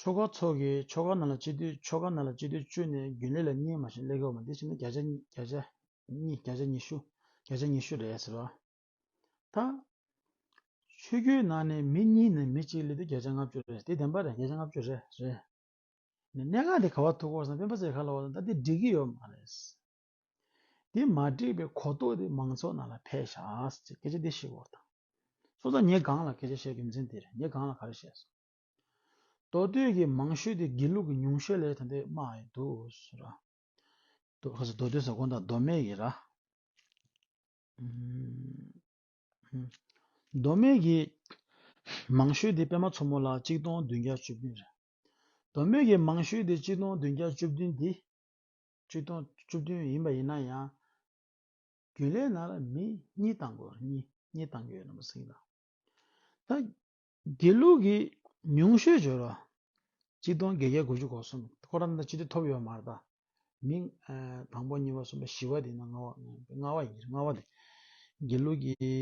ཆོ་ག་ཚོགས་ཀྱི་ཆོ་ག་རྣམས་ལ་སྤྱི་འདུས་ཆོ་ག་རྣམས་ལ་སྤྱི་འདུས་བཅུ་ནི་རྒྱུན་ལས་ལ་གཉིས་མ་བྱིན་ལེགས་པའོ་མ་དེ་བཞིན་ན་བརྒྱ་ཆ་གཉིས་བརྒྱ་ཆ་ཉི་ཤུ་བརྒྱ་ཆ་ཉི་ཤུ་རེད་ཟེར་བ་དང། ཆོས་རྒྱུད་ནང་ནས་མི་གཉིས་ནས་མི་གཅིག་ལས་དུས་བརྒྱ་ཆ་ལྔ་བཅུ་རེད་དེ་བདེན་པ་རེད་བརྒྱ་ཆ་ལྔ་བཅུ་རེད། གནད་འགག་དེ་ག་བ་ཐུག་གོ་ས་སྤེན་པ་ཚེ་ག་ལ་བ་ད་དེ་འགྲིག་གི་ཡོད་མ་རེད། དེ་མ་འགྲིག་པའི་གོ་རྟོགས་དེ་མང་ཚོགས་རྣམས་ལ་འཕེལ་ཞགས་ཅེས་སྐད་ཆ་འདི་ཞིག་བོར་དང། སོ་ཙང་ངས་གང་ལ་སྐད་ཆ་བཤད་དགོས་མཚན་དེ་རེད་ངས་གང་ལ་ག་རེ་བཤད་སོང། མདོ་སྟོད་ཀྱི་མང་ཤོས་དེ་དགེ་ལུགས་ཀྱི་ཉུང་ཤོས་ལས་ད་འདི་སྨྲ་ཡི་འདུག་ཟེར་ར། མདོ་སྟོད་ཟེར་དགོངས་དག་མདོ་སྨད་ཀྱི་ར། མདོ་སྨད་ཀྱི་མང་ཤོས་དེ་པད་མ་མཚོ་མོ་ལགས་གཅིག་སྟོང་བདུན་བརྒྱ་བཅུ་བདུན་རེད། མདོ་སྨད་ཀྱི་མང་ཤོས་དེ་གཅིག་སྟོང་བདུན་བརྒྱ་བཅུ་བདུན་དེ། བཅུ་སྟོང་བཅུ་བདུན་ཡིན་པ་ཡིན་ན་ཡང། རྒྱུན་ལས་ན་ར་མི་གཉིས་བཏང་དགོས་ར་གཉིས་གཉིས་བཏང་རྒྱུ་ཡོད་ན་མ་གསིང་ད། ད། དགེ་ལུགས་ཀྱི་ཉུང་ཤོས་སྦྱོར་བ། གཅིག་སྟོང་བརྒྱད་བརྒྱ་དགུ་བཅུ་གོ་གསུམ་ཁོ་རང་ད་སྤྱི་འཐུས་ཐོབ་ཡོད་མ་ར་ད། མི། དང་པོ་གཉིས་པ་གསུམ་པ་བཞི་བ་དེ་ན་ལྔ་བ་ལྔ་བ་ཡིན་ར་ལྔ་བ་དེ། དགེ་ལུགས་ཀྱི།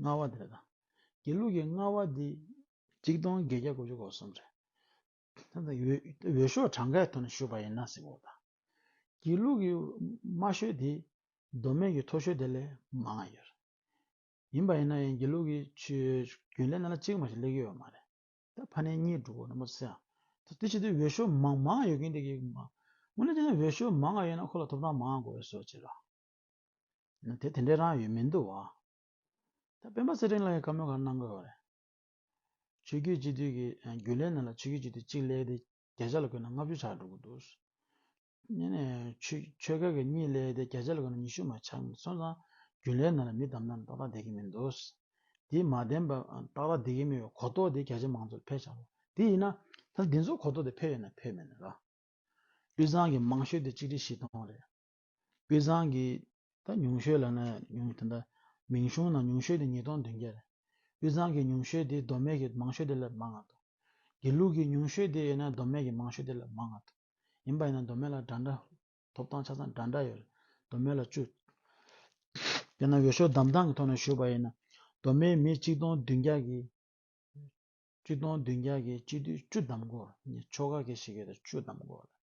ལྔ་བ་དེ་ར་ད། དགེ་ལུགས་ཀྱི་ལྔ་བ་དེ། གཅིག་སྟོང་བརྒྱད་བརྒྱ་དགུ་བཅུ་གོ་གསུམ་རེད། ཐོན་པའི་འོས་ཤོག་གྲངས་ཀའི་ཐོག་ནས་ཞུས་པ་ཡིན་ན་གཟིགས་འོག་དང། སྒྱིད་ལུག་གི་དམའ་ཤོས་དེ་མདོ་སྨད་ཀྱི་མཐོ་ཤོས་དེ་ལས་མང་ང་ཡོད། ཡིན་པ་ཡིན་ན་ཡང་སྒྱིད་ལུག་གི་རྒྱུན་ལས་རྣམས་ལ་གཅིག་མ་ཞིག་སླེབས་ཀྱི་ཡོད་མ་རེད། ད་ཕ་ནས་གཉིས་འགྲོ་ནི་མ་ཚད་ཨང། དེ་ཕྱིར་དེ་འོས་ཤོག་མང་མང་ང་ཡོད་མཁན་དེ་གི་མ། དངོས་གནས་དེ་འོས་ཤོག་མང་ང་ཡོད་ན་ཁོ་ལ་ཐོབ་ཐང་མང་ང་དགོས་པའི་སོ་ཅི་རང། དེ་དེ་འདྲའི་རང་ཡོད་མི་འདུག་བ། ད་སྤེན་པ་ཚེ་རིང་ལགས་ཀྱི་བཀའ་མོལ་གང་གནང་དགོས་བ་རེད། ཆོས་བརྒྱུད་སྤྱི་འཐུས་ཀྱི་རྒྱུན་ལས་རྣམས་ལ་ཆོས་བརྒྱུད་སྤྱི་འཐུས་གཅིག་གླས་ཏེ་བརྒྱ་ཆ་ལ་བཀོད་ན་ལྔ་བཅུ་ཆགས་འགྲོ་གི་འདུག། ཆོས་ཁ་གི་གཉིས་གླས་ཏེ་བརྒྱ་ཆ་ལ་བཀོད་ན་ཉི་ཤུ་མ་ཆགས་ནས་སོང་ཙང་རྒྱུན་ལས་རྣམས་ལ་མི་དམ་ནའང་ཏག་ཏག་བསྡད་ཀྱི་མི་འདུག། དེས་མ་བདེན་པ་ཏག་ཏག་བསྡད་ཀྱི་མི་བའི་གོ་རྟོགས་དེ་རྒྱ་ཆེ་མང་ཚོགས་ལ་འཕེལ་ཆགས་དགོས། དེ་ཡིན་ན། ད་འདི་ཚོ་གོ་རྟོགས་དེ་འཕེལ་ཡོད་ནམ་འཕེལ་མེད་ནི་ར། དབུས་གཙང་གི་མང་ཤོས་དེ་གཅིག་སྒྲིལ་བཞི་སྟོང་རེད། དཔེ་བཟང་གི་ད་ཉུང་ཤོས་ལ་ན་ཉུང་དེ་འདྲ་མིང་གཞུང་ན་ཉུང་ཤོས་དེ་ཉིས་སྟོང་བདུན་བརྒྱ་རེད་དཔེ་བཟང་གི་ཉུང་ཤོས་དེ་མདོ་སྨད་ཀྱི་མང་ཤོས་དེ་ལས་མང་ང་དོ་དགེ་ལུགས་ཀྱི་ཉུང་ཤོས་དེ་ཡིན་ན་མདོ་སྨད་ཀྱི་མང་ཤོས་དེ་ལས་མང་ང་དོ་ཡིན་པ་ཡིན་ན་མདོ་སྨད་ལ་འདྲ་འདྲ་ཐོབ་ཐང་ཆ་ཚང་འདྲ་འདྲ་ཡོད་རེད་མདོ་སྨད་ལ་བཅུ། དེ་ན་ཡོ་ཤོ་གདམ་ཐང་གི་ཐོག་ན་ཞུས་པ་ཡིན་ན་མདོ་སྨད་མི་གཅིག་སྟོང་བདུན་བརྒྱ་གི་གཅིག་སྟོང་བདུན་བརྒྱ་གི་གཅིག་བསྡུས་བཅུ་གདམ་དགོས་ངས་ཆོ་ག་གེ་ཞིག་ཡོད་ད་བཅུ་གདམ་དགོས་ལ།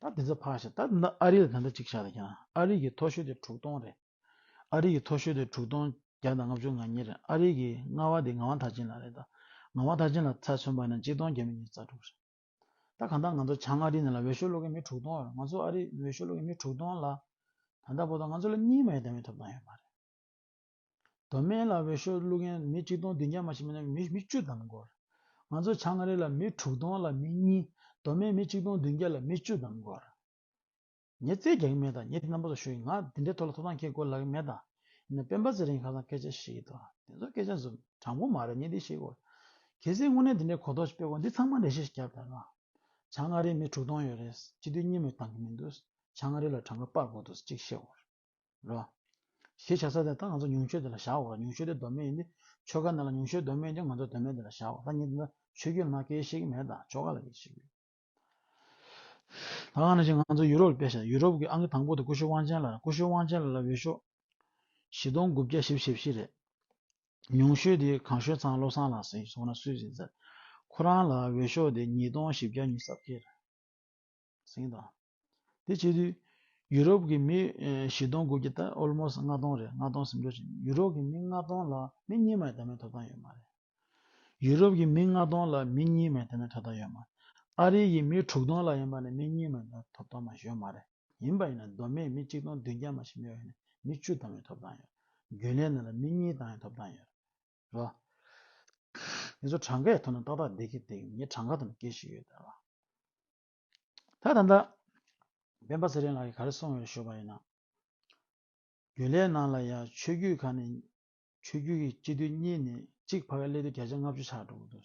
ད་དེ་ཚོ་ཕར་བཞག་ད་ནི་ཨ་རི་ལ་ད་ལྟ་གཅིག་བཞག་ལ་ཡང་ཨ་རི་གི་མཐོ་ཤོས་དེ་དྲུག་སྟོང་རེད་ཨ་རི་གི་མཐོ་ཤོས་དེ་དྲུག་སྟོང་བརྒྱ་དང་ལྔ་བཅུ་ང་གཉིས་རེད་ཨ་རི་གི་རྔ་བ་དེ་རྔ་བ་མཐའ་ཅན་ལ་རེད་ད་རྔ་བ་མཐའ་ཅན་ལ་ཚ་མཚོན་པ་ན་གཅིག་སྟོང་བརྒྱ་མི་གཉིས་རྩ་དྲུག་རེད་ད་གང་ལྟར་ང་ཚོ་བྱང་ཨ་རི་ནས་ལ་འོས་ཤོག་སློག་མཁན་མི་དྲུག་སྟོང་རེད་ང་ཚོ་ཨ་རི་འོས་ཤོག་སློག་མཁན་མི་དྲུག་སྟོང་ལ་ད་ལྟ་བོ་ད་ང་ཚོ་ལ་གཉིས་མ་ཡོད་ད་མི་ཐོབ་ཐང་ཡོད་མ་རེད། མདོ་སྨད་ལ་འོས་ཤོག་བླུག་མཁན་མི་གཅིག་སྟོང་བདུན་བརྒྱ་མ་ཞིག་མིན་ན་མི་བཅུ་ཙམ་འགོར། ང་ཚོ་བྱང་ཨ་རི་ལ་མི་དྲུག་སྟོང་ལ་མི་གཉིས་མདོ་སྨད་མི་གཅིག་སྟོང་བདུན་བརྒྱ་ལ་མི་བཅུ་ཙམ་འགོར། ངས་རྩལ་རྒྱག་གི་མེད་དང་ངས་དེ་རྣམ་པ་ལ་ཞུགས་ཡིན་ང་དེ་འདྲའི་ཐོག་ལ་ཐོབ་ཐང་ཁྱེར་དགོས་ལག་གི་མེད་དང། ཡིན་ན་སྤེན་པ་ཚེ་རིང་ཁ་སང་སྐད་ཆ་བཤད་ཡོད་དོ། དེ་ཚོ་སྐད་ཆ་དྲང་པོ་མ་རེད་ངས་འདི་བཤད་དགོས། གལ་སྲིད་དངོས་གནས་དེ་འདྲའི་གོ་རྟོགས་ཤིག་སྤེལ་དགོས་ན་འདི་ཚང་མ་འགྲེལ་བཤད་ཤིག་རྒྱག་དགོས་ལ། བྱང་ཨ་རིའི་མི་དྲུག་སྟོང་ཡོད་རེད་སྤྱི་འཐུས་གཉིས་མོས་བཏང་གི་མི་འདུག་བྱང་ཨ་རི་ལ་གྲངས་ཀ་སྤར་དགོས་འདུག་ཅིག་བཤད་དགོས་རེད། རོ། ཞེས་བྱ་ས་དེ་ད་ང་ཚོ་ཉུང་ཤོས་དེ་ལ་བཞག་འོ་ཉུང་ཤོས་དེ་གདོད་མའི་ཡིན་ཏེ་ཆོ་ག་འདི་ལ་ཉུང་ཤོས་གདོད་མའི་ཀྱང་ང་ཚོ་གདོད་མའི་དེ་ལ་བཞག་འོ་ད་ཉིད་འདི་ད་ཆོས་རྒྱུད་ན་སྐད་ཤེས་ཀྱི་མེད་ད་ཆོ་ག་ལ་སྐད་ཤེས་ཡོད། ད་གང་ན་ཞིག་ང་ཚོ་ཡུ་རོབ་ལ་བལྟས་ཤག་ཡུ་རོབ་ཀྱི་ཨང་ཀི་དང་པོ་དེ་ཀུ་ཤུ་དབང་ཆེན་ལ་རེད་ཀུ་ཤུ་དབང་ཆེན་ལ་ལ་འོས་ཤོག་བཞི་སྟོང་དགུ་བརྒྱ་བཞི་བཞི་བཞི་རེད། ཉུང་ཤོས་དེ་གང་ཤོས་ཚང་བློ་བཟང་ལགས་སེ་སོང་ན་སུས་ཟིན་ཟེར། ཁོ་རང་ལ་འོས་ཤོག་དེ་ཉིས་སྟོང་བཞི་བརྒྱ་ཉུལ་སྲབ་ཁེལ་རེད། ཟིང་དང། དེ་སྤྱི་དུས། ཡུ་རོབ་ཀྱི་མི་བཞི་སྟོང་དགུ་བརྒྱ་དང almost ལྔ་སྟོང་རེད་ལྔ་སྟོང་ཟིང་འགྲོ་བྱེད་ཡུ་རོབ་ཀྱི་མི་ལྔ་སྟོང་ལ་མི་གཉིས་མ་ཡིན་ད་མའི་ཐོབ་ཐང་ཡོད་མ་རེད། ཡུ་རོབ་ཀྱི་མི་ལྔ་སྟོང་ལ་མི་གཉིས་མ་ཡིན་ད་མའི་ཐོབ་ཐང་ཡོད་མ་རེད། ཨ་རི་ཡི་མི་དྲུག་སྟོང་ལ་ཡིན་པ་ནས་མི་གཉིས་མ་ཡིན་ད་མའི་ཐོབ་ཐང་མ་ཞོན་མ་རེད། ཡིན་པ་ཡིན་ན་མདོ་སྨད་མི་གཅིག་སྟོང་བདུན་བརྒྱ་མ་ཞིག་མེད་པ་ཡིན་ནས་མི་བཅུ་ད་མའི་ཐོབ་ཐང་ཡོད་རེད། རྒྱུན་ལས་ན་ལ་མི་གཉིས་ད་མའི་ཐོབ་ཐང་ཡོད་རེད། རེད་རེད་ངེད་ཚོ་གྲངས་ཀའི་ཐོག་ནས་ཏག་ཏག་བསྡད་ཀྱི་འདུག་ངས་གྲངས་ཀ་དང་སྐད་ཤེས་ཡོད་རེད་ད་ད་ལྟ་སྤེན་པ་ཚེ་རིང་ལགས་ཀྱི་ག་རེ་གསུངས་ཡོད་ཞུ་བ་ཡིན་ན་རྒྱུན་ལས་ནང་ལ་ཡང་ཆོས་རྒྱུད་ཁག་ནས་ཆོས་རྒྱུད་ཀྱི་སྤྱི་འཐུས་གཉིས་ནས་གཅིག་ཕ་ག་སླེ་དུ་བརྒྱ་ཆ་ལྔ་བཅུ་ཆགས་འགྲོ་གི་འདུག་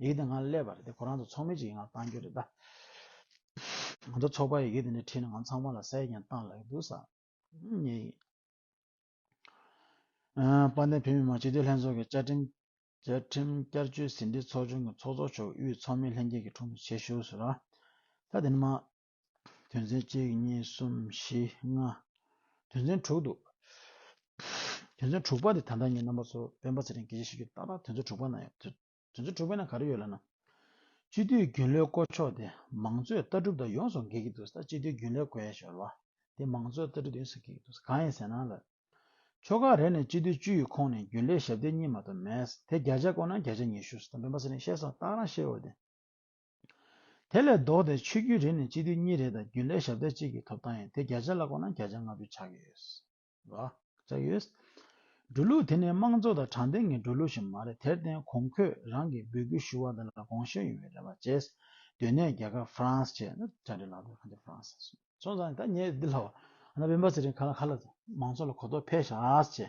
ཡི་གེ་དེ་ང་ལ་སླེབས་པ་རེད་དེ་ཁོ་རང་ཚོ་ཚོགས་མི་གཅིག་ཡིན་ང་ལ་བཏང་རྒྱུ་རེད་ད། ང་ཚོ་ཚོགས་པར་ཡི་གེ་དེ་འདྲ་ཁྲིད་ན་ང་ཚང་མ་ལ་གསལ་རྒྱན་བཏང་ལ་ཡི་འདུག་ས་ཉེ་ཡིན། དཔལ་ལྡན་བོད་མི་མང་སྤྱི་འཐུས་ལྷན་ཚོགས་ཀྱི་བཅའ་ཁྲིམས་བསྐྱར་བཅོས་ཟིན་བྲིས་ཚོགས་ཆུང་གི་ཚོགས་གཙོ་མཆོག་དབུས་ཚོགས་མི་ལྷན་རྒྱས་ཀྱི་དྲུང་དུ་ཆེད་ཞུ་ཟེར། ད་དེ་ནི་མ། དོན་ཚན་གཅིག་གཉིས་གསུམ་བཞི་ལྔ། དོན་ཚན་དྲུག་འདུག། དོན་ཚན་དྲུག་པ་དེ་ད་ལྟ་ངས་རྣམ་པ་ཚོར་སྤེན་པ་ཚེ་རིང་གིས་ཞིབ་ཞིབ་ཀྱིས་བལྟ་ད་དོན་ཚན་དྲུག་པ་ན་ཡོད། དོན་ཚན་དྲུག་པའི་ནང་ག་རེ་ཡོད་ལབ་ན། སྤྱི་འཐུས་རྒྱུན་ལས་བསྐོ་ཕྱོགས་དེ་མང་གཙོས་ལྟ་གྲུབ་དང་ཡོངས་སུ་འགལ་གྱི་འདུག་ས་སྤྱི་འཐུས་རྒྱུན་ལས་བསྐོ་ཡས་ཞོར་བ་དེ་མང་གཙོའི་ལྟ་གྲུབ་དང་ཡོངས་སུ་འགལ་གྱི་འདུག་ས་གང་ཡིན་ཟེར་ན་ལབ། ཕྱོགས་ག་རེ་ནས་སྤྱི་འཐུས་བཅུ་ཡི་ཁོངས་ནས་རྒྱུན་ལས་ཞབས་བརྟན་གཉིས་མ་གཏོགས་མེད། དེ་བརྒྱ་ཆ་བསྐོ་ན་བརྒྱ་ཆ་ཉི་ཤུ་སོ་དོན་པེན་པ་ཚེ་རིང་བཤད་སོང་བལྟ་རང་ཤེས་རོགས་དེ། དེ་ལས་ལྡོག་སྟེ་ཆོས་བརྒྱུད་རེ་ནས་སྤྱི་འཐུས་གཉིས་རེ་དང་རྒྱུན་ལས་ཞབས་འདེགས་གཅིག་གི་ཐོབ་ཐང་ཡིན་དེ་བརྒྱ་ཆ་ལ་བཀོད་ན་བརྒྱ་ཆ་ལྔ་བཅུ་ཆགས་ཡོད། ཆགས་ཡོད། འགྲོ་ལུགས་དེ་ནི་དམངས་གཙོ་དང་དྲང་བདེན་གྱི་འགྲོ་ལུགས་ཤིག་མ་རེད་དེར་བརྟེན་གོང་ཁོས་རང་གིས་འབོད་སྐུལ་ཞུ་བ་འདི་ལ་དགོངས་ཞུ་ཡོང་བའི་རེ་བ་བཅས། དོན་གནད་རྒྱ་གར་ཧྥ་རན་སི་བཅས་ནི་བཅར་འདྲི་ལག་འདེབས་ཁང་དེ་ཧྥ་རན་སི། སོང་ཙང་ད་ངས་འདི་ལྷ་བ། ཨ་ན་བྷེ་འབའ་ཚེ་རིང་ག་ལ་ག་ལ། མང་ཚོགས་ལ་གོ་རྟོགས་འཕེལ་ཤག་བྱས།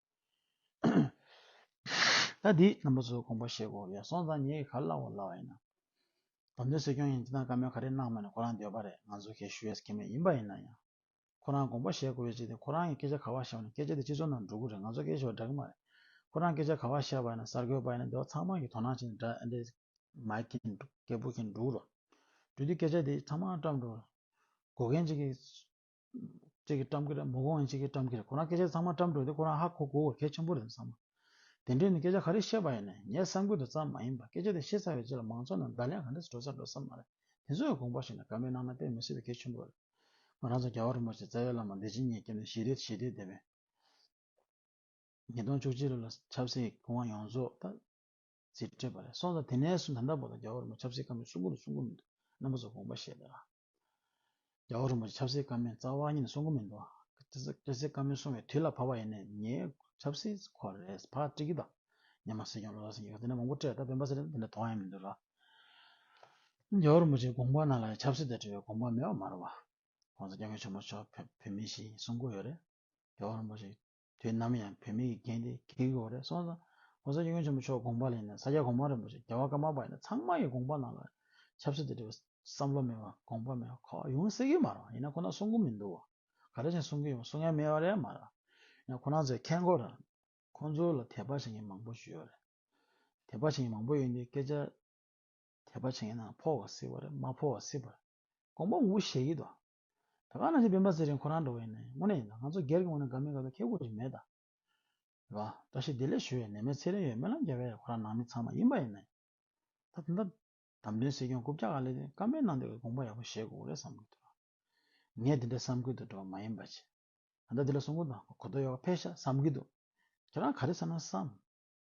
ད་དེའི་རྣམ་པ་ཚོའི་དགོངས་པ་བཤད་དགོས་ཡོད་སོང་ཙང་ངས་ག་ལ་ལ་བ་ཡིན་ནམ། དོན་དུ་སྲིད་སྐྱོང་ཡིན་དེ་དང་བཀའ་མོལ་ག་རེ་གནང་མོད་ནས་ཁོ་རང་འདོད་པ་རེད་ང་ཚོ་གས་ཞུ་ཡས་ཀྱི་མེད་ཡིན་པ་ཡིན་ན་ཡང། ཁོ་རང་དགོངས་པ་བཤད་དགོས་ཡོད་ཅིག་དེ་ཁོ་རང་གིས་སྐད་ཆ་ག་བ་བཤད་པ་ནི་སྐད་ཆ་དེ་སྤྱི་ཚོགས་ནང་འགྲོ་དགོས་རེད་ང་ཚོ་སྐད་ཆ་བ་འདྲ་གི་མ་རེད། ཁོ་རང་སྐད་ཆ་ག་བ་བཤད་པ་ཡིན་ན་གསར་འགོད་པ་ཡིན་ན་དེ་བ་ཚང་མ་གིས་དོ་སྣང་བྱེད་ནས་འདྲ་འདྲས་མ་གིས་འདྲ་སྐད་པོ་གིས་འགྲོ་གི་རོགས། འགྲོ་དུས་སྐད་ཆ་དེ་ཚང་མ་བཀྲམས་འགྲོ་དགོས་མཁན་ཅིག་གིས། གཅིག་གིས་བཀྲམ་གྱི་རེད་མོ་གོང་གཅིག་གིས་བཀྲམ་གྱི་རེད་ཁོ་རང་སྐད་ཆ་ཚང་མ་བཀྲམ་འགྲོ་དེ་ཁོ་རང་ཧ་གོ་གོ་བོ་གལ་ཆེན་པོ་རེད་བསམ། དེ་འདྲས་ནི་སྐད་ཆ་ག་རེ་བཤད་པ་ཡིན་ནས་ངས་བསམ་ཁུལ་དུ་ཙམ་མ་ཡིན་པར་སྐད་ཆ་དེ་བཤད་ཚར་བའི་རྗེས་ལ་མང་ཚོགས་ནང་བརྡ་ལན་ག་འདྲས་སུ་འགྲོ་ཚར་འགྲོ་ས་མ་རེད་དེ་ཚོའི་དགོངས་པ་ཞིག་ནི་དགའ་མོས་གནང་ན་དཔེ་མི་སྲིད་པའི་གལ་ཆེན་པོ་རེད། ང་རང་ཚོ་རྒྱ་བ་རིན་པོ་ཆེ་རྩ་བའི་བླ་མ་འདི་ཇི་སྙེད་སྐྱབས་ནས་ཞི་བདེ་ཞི་བདེ་དེ་བས། ཉིས་སྟོང་བཅུ་གཅིག་ལོ་ལ་ཆབ་སྲིད་ཀྱི་དབང་ཡོངས་རྫོགས་ད་ཙིར་སྤྲད་པ་རེད་སོང་ཙང་དེ་ནས་བཟུང་ད་ལྟ་བར་དུ་རྒྱ་བ་རིན་པོ་ཆབ་སྲིད་ཁ་མི་གསུང་གོ་མི་གསུང་གོ་མི་འདུག་རྣམ་པ་ཚོ་དགོངས་པ་བཞེས་ད་ར། རྒྱ་བོད་རིན་པོ་ཆེ་ཆབ་སྲིད་བཀའ་མོལ་རྩ་བ་ཉིད་ནས་གསུང་གི་མི་འདུག་ཆབ་སྲིད་བཀའ་མོལ་གསུང་བའི་དུས་ལ་བབ་པ་ཡིན་ནས་ངས་ཆབ་སྲིད་སྐོར་རེད་ཕར་དཀྲིགས་ཀྱི་དང། ཉམས་མ་སྲིད་ཀྱང་ལོ་ཙཱ་སྲིད་ཀྱི་དེ་འདྲ་མང་པོ་སྤྲད་ད་བོད་པ་ཟེར་ན་དེ་འདྲ་དོགས་ཡ་མི་འདུག་ལགས། རྒྱ་བོད་རིན་པོ་ཆེའི་དགོངས་པ་རྣམས་ལ་ཡང་ཆབ་སྲིད་དང་འབྲེལ་བའི་དགོངས་པ་མེད་པ་མ་རེད་བ། ཁོང་ཚོ་སྐྱབས་མགོན་ཆེན་མོ་མཆོག་བོད་མི་ཞིག་ཡིན་གསུང་གི་ཡོད་རེད། རྒྱ་བོད་རིན་པོ་ཆེ་དུས་ནམ་ཡང་བོད་མི་ཡི་འགན་དེ་གལ་གི་འོ་རེད་གསུངས་སོང། ྋགོང་ས ྋསྐྱབས་མགོན་ཆེན་པོ་མཆོག་དགོངས་པ་ལེན་ནས་ས་སྐྱ་གོང་མ་རིན་པོ་ཆེ་རྒྱལ་བ་ཀརྨ་པ་ཡིན་ན་ཚང་མ་ཡི་དགོངས་པ་ནང་ལ་ཆབ་སྲིད་དུ་འབྲེལ་བའི་བསམ་བློ་མེད་པ་དགོངས་པ་མེད་ཁོག་ཡུང་སྲིད་ཀི་མ་རང་ཡིན་ན་ཁོ་ན་གསུང་གི་མི་འདུག་ག་རེ་བཞིན་གསུང་གི་ཡོང་གསུང་མཁན་མེད་པ་རེད་མ་རང་ཡིན་ན་ཁོ་ན་ཚོའི་མཁན་སྒོ་རང་ཁོང་ཚོའི་ལ་དད་པ་བྱེད་མཁན་མང་པོ་ཞུས་ཡོད་རེད་དད་པ་བྱེད་མཁན་མང་པོ་ཡོད་འདི་སྐད་ཆ་དད་པ་བྱེད་མཁན་ནང་ཕོག་བ་སྲིད་པ་རེད་མ་ཕོག་བ་སྲིད་པ་རེད་དགོངས་པ་ངུ་ཞེས་ཀི་འདུག་ད་ག་ནང་ཆོས་བོན་པ་ཟེར་རིང་ཁོ་རང་འགྲོ་བའི་ནས་དངོས་གནས་ཡིན་ད་ང་ཚོ་སྒེར་གྱི་ངོས་ནས་དགའ་མི་དགའ་བའི་ཁེ་གོ་རིག་མེད་ད། ཡིན་པ་བཀྲ་ཤིས་བདེ་ལེགས་ཞུ་བའི་ནས་མོས་ཚེ་རིང་ཡོད་སྨོན་ལམ་རྒྱབ་བས་ཁོ་རང་ནང་མི་ཚང་མ་ཡིན་པ་ཡིན་ནས་ད་དེ་འདྲ་དམ་དོན་སྲིད་སྐྱོང་རྐུབ་བཀྱག་ག་ལེ་དེ་ཀམ་པའི་ནང་འདེགས་ཀྱི་དགོངས་པ་ཡག་པོ་བཞེས་དགོས་རེད་བསམ་གི་འདུག་ལ། ངས་དེ་འདྲའི་བསམ་གི་འདུག་འགྲོ་བ་མ་ཡིན་པ་ཆེ་ད་ད་དེ་ལ་གསུང་གི་འདུག་གོ་ཐོ་ཡོད་ཀ་ཕེ་ཤ་བསམ་གི་འདུག་ཁྱེད་རང་ག་རེ་བསམ་ན་བསམ།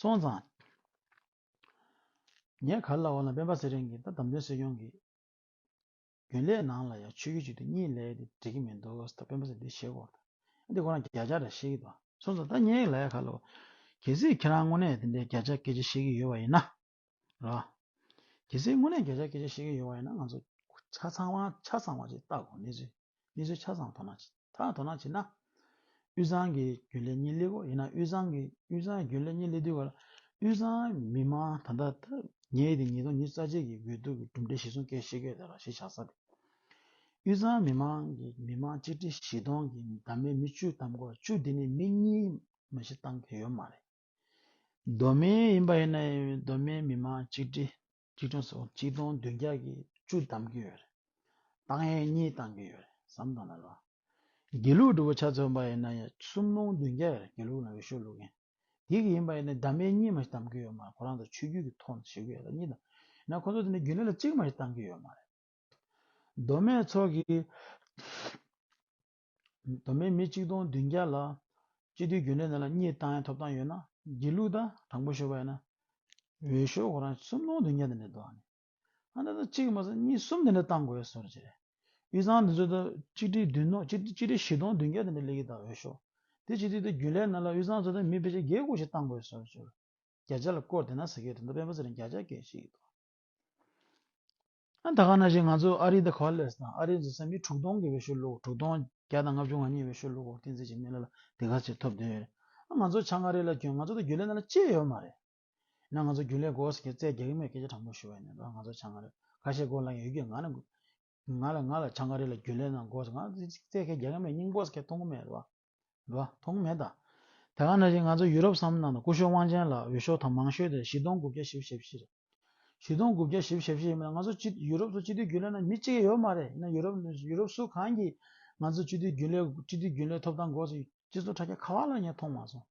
སོང་ཙང། ངས་ག་རེ་ལ་འོ་ན་སྤེན་པ་ཚེ་རིང་གིས་ད་བདམས་ཐོན་སྲིད་སྐྱོང་གི་རྒྱུན་ལས་ནང་ལ་ཡང་ཆུ་རྒྱུས་གཅིག་དུས་གཉིས་ལས་དེ་འགྲིག་གི་མི་འདུག་ད་སྤེན་པ་ཚོས་འདི་བཤད་སྐོར་དང། འདི་སྐོར་རང་བརྒྱ་ཆ་འདྲ་བཤད་ཀྱི་འདུག་སོང་ཙང་ད་ངས་ལ་ཡ་ག་ལ་འོ། གལ་སྲིད་ཁྱེད་རང་དངོས་གནས་དེ་འདྲའི་བརྒྱ་ཆ་སྐད་ཆ་བཤད་ཀྱི་ཡོད་པ་ཡིན་ན། ར། གལ་སྲིད་དངོས་གནས་འགྱོད་བཤགས་སྐད་ཆ་བཤད་མཁན་ཡོད་པ་ཡིན་ན་ང་ཚོ་ཆ་ཚང་བ་ཆ་ཚང་བ་ཅིག་བལྟ་དགོས་གནས་ཚུལ་གནས་ཚུལ་ཆ་ཚང་དོ་སྣང་བྱེད་ད་དོ་སྣང་བྱེད་ན་དབུས་གཙང་གི་རྒྱུན་ལས་གཉིས་སླེབས་གོ་ཡིན་ན་དབུས་གཙང་གི་དབུས་གཙང་རྒྱུན་ལས་གཉིས་སླེབས་དུས་ག་ལ་དབུས་གཙང་མི་དམངས་ད་ལྟ་ད་ཉེ་དེ་ཉིས་སྟོང་ཉིས་རྩ་གཅིག་གི་དགོས་གཏུག་གི་གྲུབ་འབྲས་གཞི་བཟུང་སྐད་བཤད་སྐད་བརྡ་ར་ཞེ་བཞག་ས་དེ་དབུས་གཙང་མི་དམངས་ཀྱི་མི་དམངས་གཅིག་ཁྲི་བཞི་སྟོང་གི་འདབ་མའི་མི་བཅུ་དམ་དགོ་བཅུ་དེ་ནི་མི་གཉིས་མ་བཞི་བཏང་གི་ཡོད་མ་རེད། མདོ་སྨད་ཡིན་པ་ཡིན་ན་མདོ་སྨད་མི་མང་གཅིག་སྒྲིལ་གཅིག་མཐུན་སོགས་གཅིག་སྟོང་བདུན་བརྒྱ་གིས་བཅུ་བདམས་ཀྱི་ཡོད་རེད། ཏང་ཡོན་གཉིས་བཏང་གི་ཡོད་རེད་བསམ་དང་ལེན་ལ། དགེ་ལུགས་སྒྲུབ་པོ་ཆ་མཚོན་པ་ཡིན་ན་གསུམ་སྟོང་བདུན་བརྒྱ་ཡོད་རེད་དགེ་ལུགས་ལ་འོས་ཤོག་བླུག་མཁན། དེ་གི་ཡིན་པ་ཡིན་ན་བདམས་པའི་གཉིས་མ་ཞིག་བདམས་ཀྱི་ཡོད་མ་རེད་ཁོ་རང་ཚོ་ཆོས་རྒྱུད་ཀྱི་ཐོག་ནས་བྱེད་ཀྱི་ཡོད་ད་གཉིས་དང། ཡིན་ན་ཁོ་ཚོ་དེ་ནས་རྒྱུན་ལས་ལ་གཅིག་མ་ཞིག་བཏང་གི་ཡོད་མ་རེད། མདོ་སྨད་ཚོགས་ཀྱི། དོ་མེད་མི་གཅིག་སྟོང་བདུན་བརྒྱ་ལ། སྤྱི་འཐུས་རྒྱུན་ལས་རྣམས་ལ་གཉིས་བཏང་ཡང་ཐོབ་ཐང་ཡོད་ན། སྒྱིད་ལུག་ད་དྲང་པོ་ཤོད་པ་ཡིན་ན། འོས་ཤོག་ཁོ་རང་སུམ་སྟོང་བདུན་བརྒྱ་དེ་འདྲ་འདུག་ཨང། ཨ་འདྲ་ད་གཅིག་མ་ཟད་གཉིས་གསུམ་དེ་འདྲ་བཏང་དགོས་གསུངས་རེད། དབུས་གཙང་འདི་ཚོ་ད་གཅིག་ཁྲི་བདུན་སྟོང་གཅིག་ཁྲི་བཞི་སྟོང་བདུན་བརྒྱ་དེ་འདྲ་སླེ་གི་ད་འོས་ཤོག། དེ་སྤྱི་འཐུས་ད་རྒྱུན་ལས་རྣམས་ལ་དབུས་གཙང་ཚོ་ད་མི་ཕལ་ཆེར་བརྒྱད་དགུ་ཞིག་བཏང་དགོས་ཟེར་བྱུར། བརྒྱ་ཆ་ལ་བསྐོར་དེ་ན་ཟེར་གི་རེད་འདུག་སྤེན་པ་ཚེ་རིང་བརྒྱ་ཆ་བརྒྱད་ཅིག་གི་ཐོག། ད་ག་ན་བཞིན་ང་ཚོ་ཨ་རི་དང་གྷ་ལེར་དང་ཨ་རིའི་འཛིན་ས་མི་དྲུག་སྟོང་གི་བའི་ཤོ་ལུག་དྲུག་སྟོང་བརྒྱ་དང་ལྔ་བཅུ་ང་གཉིས་བའི་ཤོ་ལུག་འོག་བསྟན་འཛིན་གྱི་མི་ལ་ལ་དེ་ག་ཚོད་ཐོབ་འདོད་རེད་ང་ཚོ་ཆ་ང་རེ་ལ་གྱོན་ང་ཚོ་དང་རྒྱུ་ལས་ན་ལ་གཅེས་ཡོད་མ་རེད་ཡིན་ན་ང་ཚོ་རྒྱུ་ལས་སྒོ་ཟེར་གྱི་བཙལ་རྒྱག་གི་མེད་སྐད་ཆ་དྲང་པོ་ཞུ་བ་ཡིན་ན་ང་ཚོ་ཆ་ང་རེ་ཁ་ཤས་སྒོ་ལ་ཡོད་རྒྱུ་ང་ལ་ང་ལ་ང་ལ་ཆ་ང་རེ་ལ་རྒྱུ་ལས་ན་སྒོ་ཟེར་ང་ཚོ་བཙལ་སྐད་རྒྱག་གི་མེད་སྙིང་པོ་ཟེར་སྐད་མཐོང་གི་མེད་རེད་བ། རེད། མཐོང་མེད་དང། དེ་ག་ནང་བཞིན་ང་ཚོ་ཡུ་རོབ་བསམ་ནང་དང་སྐུ་ཞོལ་དབང་ཆེན་ལ་འོས་ཤོག་ཐང་མང་ཤོས་དེ་བཞི་སྟོང་དགུ་བརྒྱ་བཞི་བཞི་བཞི་རེད། བཞི་སྟོང་དགུ་བརྒྱ་བཞི་བཞི་བཞི་ཡིན་པ་ན་ང་ཚོ་ཡུ་རོབ་ཚོ་སྤྱི་འཐུས་རྒྱུན་ལས་ནང་མི་གཅིག་ཡང་ཡོད་མ་རེད་ཡིན་ན་ཡུ་རོབ་ཡུ་རོབ་སུ་གང་གིས་ང་ཚོ་སྤྱི་འཐུས་རྒྱུན་ལས་སྤྱི་འཐུས་རྒྱུན་ལས་ཐོབ་ཐང་འགོ་སྤྱི་ཚོགས་དྲ་རྒྱ་ག་བ་ལ་ངས་མཐོང་མ་སོང།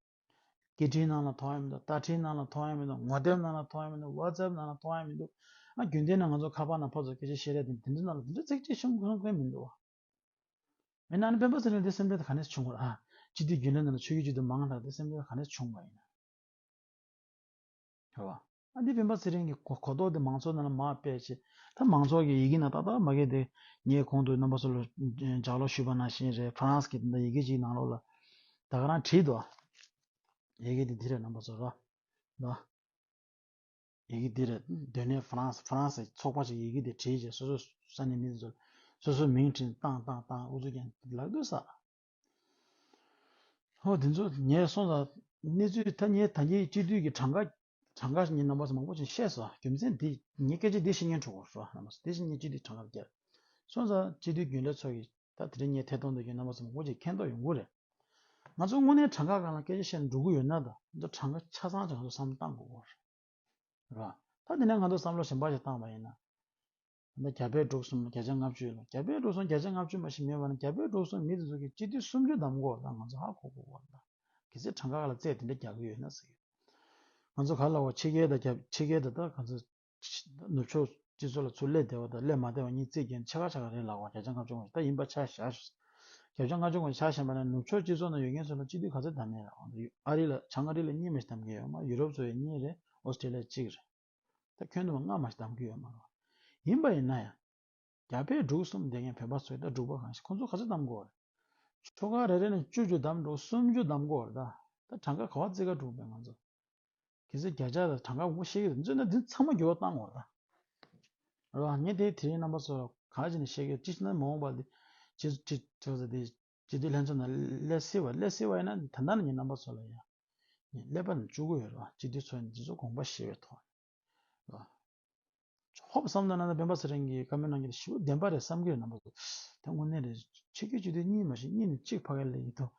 སྐད་འཕྲིན་ནང་ལ་ཐོ་ཡང་མི་འདུག་བརྡ་འཕྲིན་ནང་ལ་ཐོ་ཡང་མི་འདུག་ངོ་དེབ་ནང་ལ་ཐོ་ཡང་མི་འདུག WhatsApp ནང་ལ་ཐོ་ཡང་མི་འདུག་ཨ་རྒྱུན་ལྡན་ནང་ང་ཚོ་ཁ་པར་ནང་ཕོ་ཚོ་སྐད་ཆ་བཤད་རེས་དེ་འདི་འདྲ་ནང་ལ་འདི་འདྲ་ཚིག་འཕྲད་ཤོམ་གང་གང་མི་འདུག་བ། མི་རྣམས་ནི་བེམ་པོ་ཟེར་ནས་དེ་སེམས་ཁྲལ་དང་ག་ནས་བྱུང་གོ། ཅི་སྟེ་རྒྱུན་ལས་རྣམས་ནི་ཆོས་ཀྱི་རྒྱུད་དུ་མ་འང་དག་དེ་སེམས་ཁྲལ་དང་ག་ནས་བྱུང་བ་ཡིན། ཞེས་པ། ཨ་ཏི་བེམ་པོ་ཚེ་རིང་གི་གོ་རྟོགས་དེ་མང་ཚོགས་རྣམས་ལ་མ་སྤེལ་ཅིག། ད་མང་ཚོགས་ཀྱིས་ཡི་གེ་ནང་ཏག་ཏག་མ་གས་ཏེ། ངས་གོང་དུ་རྣམ་པ་ཚོ་ལ་ལྗགས་ཀློག་ཞུས་པ་ནང་བཞིན་རེད་ཕ་རངས་ཀྱིས་དེ་འདྲ་ཡི་གེ་གཅིག་ནང་ལོགས་ལ། ད་ག་རང་བྲིས་འདུག་ཨ། ཡི་གེ་འདི་འདི་རེད་རྣམ་པ་ཚོ་ར། ལ། ཡི་གེ་འདི་རེད། སྡོད་གནས་ཧྥ་རན་སི་ཧྥ་རན་སི་ཚོགས་པ་ཞིག་ཡི་གེ་འདི་བྲིས་རྗེས་སོ་སོས་ས་ནས་མི་འདི་ཚོ་སོ་སོའི་མིང་བྲིས་ཏང་ཏང་ཏང་ཨུ་ཚོས་ཀྱང་ལག་སྡོད་ས། ཧོ་འདི་ཚོ་ངས་སོང་ཙང་གནས་ཚུལ་ཐ་སྙད་ད་ངས་སྤྱི་འཐུས་ཀྱི་གྲངས་ཀ་གྲངས་ཀ་ངས་རྣམ་པ་ཚོ་མང་པོ་ཅིག་ཤེས་སོ་རྒྱུ་མཚན་འདི་ངས་སྐད་ཆ་འདི་བཤད་མཁན་ཁྲོད་དགོངས་སོ་རྣམ་པ་ཚོ་དེ་བཞིན་ངས་སྤྱི་འཐུས་གྲངས་ཀ་བརྒྱད་སོང་ཙང་སྤྱི་འཐུས་རྒྱུན་ལས་ཚོགས་ཀྱི་ད་དེ་རིང་ངས་ཐད་གཏོང་འདོད་མཁན་རྣམ་པ་ཚོ་མང་པོ་ཅིག་མཁྱེན་རྟོགས་ཡོང་གི་རེད། ང་ཚོ་དངོས་གནས་གྲངས་ཀ་གང་ལ་སྐད་ཆ་བཤད་ནས་འགྲོ་གི་ཡོད་ན་དང་ང་ཚོ་གྲངས་ཀ་ཆ་ཚང་ཅིག་ང་ཚོ་བསམ་བློ་གཏང་དགོས་སྐོར་རེད་རེད་པ། ད་དེ་ནས་ང་ཚོ་བསམ་བློ་ཞིབ་འབར་ཞིག་བཏང་བ་ཡིན་ན། ད་རྒྱ་བལ་འབྲུག་གསུམ་ལ་བརྒྱ་ཆ་ལྔ་བཅུ་ཡོད་ལ་རྒྱ་བལ་འབྲུག་གསུམ་བརྒྱ་ཆ་ལྔ་བཅུ་མ་ཞིག་མེད་པ་ན་རྒྱ་བལ་འབྲུག་གསུམ་མི་དེ་ཚོ་གི་སྤྱི་ཐུས་སུམ་ཅུ་བདམས་དགོས་ན་ང་ཚོ་ཧ་གོ་དགོས་སྐོར་རེད་པ། གལ་སྲིད་གྲངས་ཀ་ལ་རྩད་དེ་འདྲ་རྒྱག་གི་ཡོད་ན་ཟེར་གི་ཡོད། ང་ཚོ་ག་ལ་བ་ཕྱི་རྒྱལ་དང་ཕྱི་རྒྱལ་དང་ད་ག་ཚོད་ནུབ་ཕྱོགས་སྤྱི་ཚོགས་ལ་ཚུར་སླེབས་བདེ་བ་དང་སླེབས་མ་བདེ་བ་གཉིས་རྩིས་མཁན་ཆེ་ཁག་ཆེ་ཁག་རེད་ལགས་པ་གལ་ཆེ་ང་ཆུང་ངུ་ཞིག་ད་ཡིན་པ་ཆ་བཞག་ཞུ་སྲིད། གལ་ཆུང་ང་ཆུང་ངུ་ཞིག་ཆ་བཞེངས་པ་ན་ནུབ་ཕྱོགས་སྤྱི་ཚོགས་ནང་ཡོད་མཁན་ཚོ་ལ་སྤྱི་འཐུས་ག་ཚོད་བདམས་ཡིན་རེད་འོང་དུས་ཨ་རི་ལ་བྱང་ཨ་རི་ལ་གཉིས་མ་ཞིག་བདམས་གི་ཡོད་མ་ཡུ་རོབ་ཚོ་ཡ་གཉིས་རེད་ཨོ་སི་ཀྲི་ལ་གཅིག་རེད་ད་ཁྱོན་དུ་མ་ལྔ་མ་ཞིག་བདམས་གི་ཡོད་མ་རེད། ཡིན་པ་ཡིན་ན་ཡང། རྒྱ་བལ་འབྲུག་གསུམ་བསྡད་མཁན་བོད་པ་ཚོའི་ད་འབྲུག་པ་གང་ཞིག་ཁོང་ཚོ་ག་ཚོད་བདམས་དགོས་རེད། ཆོལ་ཁ་རེ་རེ་ནས་བཅུ་བཅུ་བདམས་འགྲོ་གསུམ་བཅུ་བདམས་དགོས་རེད་ད། ད་གྲངས་ཀ་ག་བ་བརྩི་ག་འགྲོ་དགོས་རེད་ང་ཚོ། གལ་སྲིད་བརྒྱ་ཆ་དང་གྲངས་ཀ་ངོ་ཤེས་ཀྱི་འདུག་བརྩོན་ན་འདི་ཚང་མ་འགྱུར་བ་བཏང་དགོས་རེད་རེད་བ། ངས་དེའི་དེ་རིང་རྣམ་པ་ཚོ་ག་ཅིག་ནས་ཤེས་ཀྱི་ཅི་ནས་མ་འོངས་པ་འདི་ཇི་ཇི་ཇི་ཟེར་དེ་ཇི་སྟེ་ལྷན་ཚོགས་ནང་སླེབས་སྲིད་བ་སླེབས་སྲིད་བ་ཡིན་ན་ད་ལྟ་ནས་ངས་རྣམ་པ་ཚོ་ལ་ཡང་ངས་སླེབས་པ་ནས་བཅུག་གི་ཡོད་རེད་བ་སྤྱི་འཐུས་ཚོ་ནས་འདི་ཚོ་དགོངས་པ་བཞེས་བའི་ཐོག་ནས་རེད་བ། ཧོབ་བསམ་ན་ནང་ན་སྤེན་པ་ཚེ་རིང་གི་བཀའ་མོལ་གནང་རྒྱུ་དེ་ཞི་བ་བདེན་པ་རེད་བསམ་གྱི་རེད་ནང་པ་ཚོ་དེ་དངོས་གནས་རེད་ཆོས་རྒྱུད་སྤྱི་འཐུས་གཉིས་མ་ཞིག་གཉིས་ནས་གཅིག་ཕ་གི་ལས་ཡིན་དུས་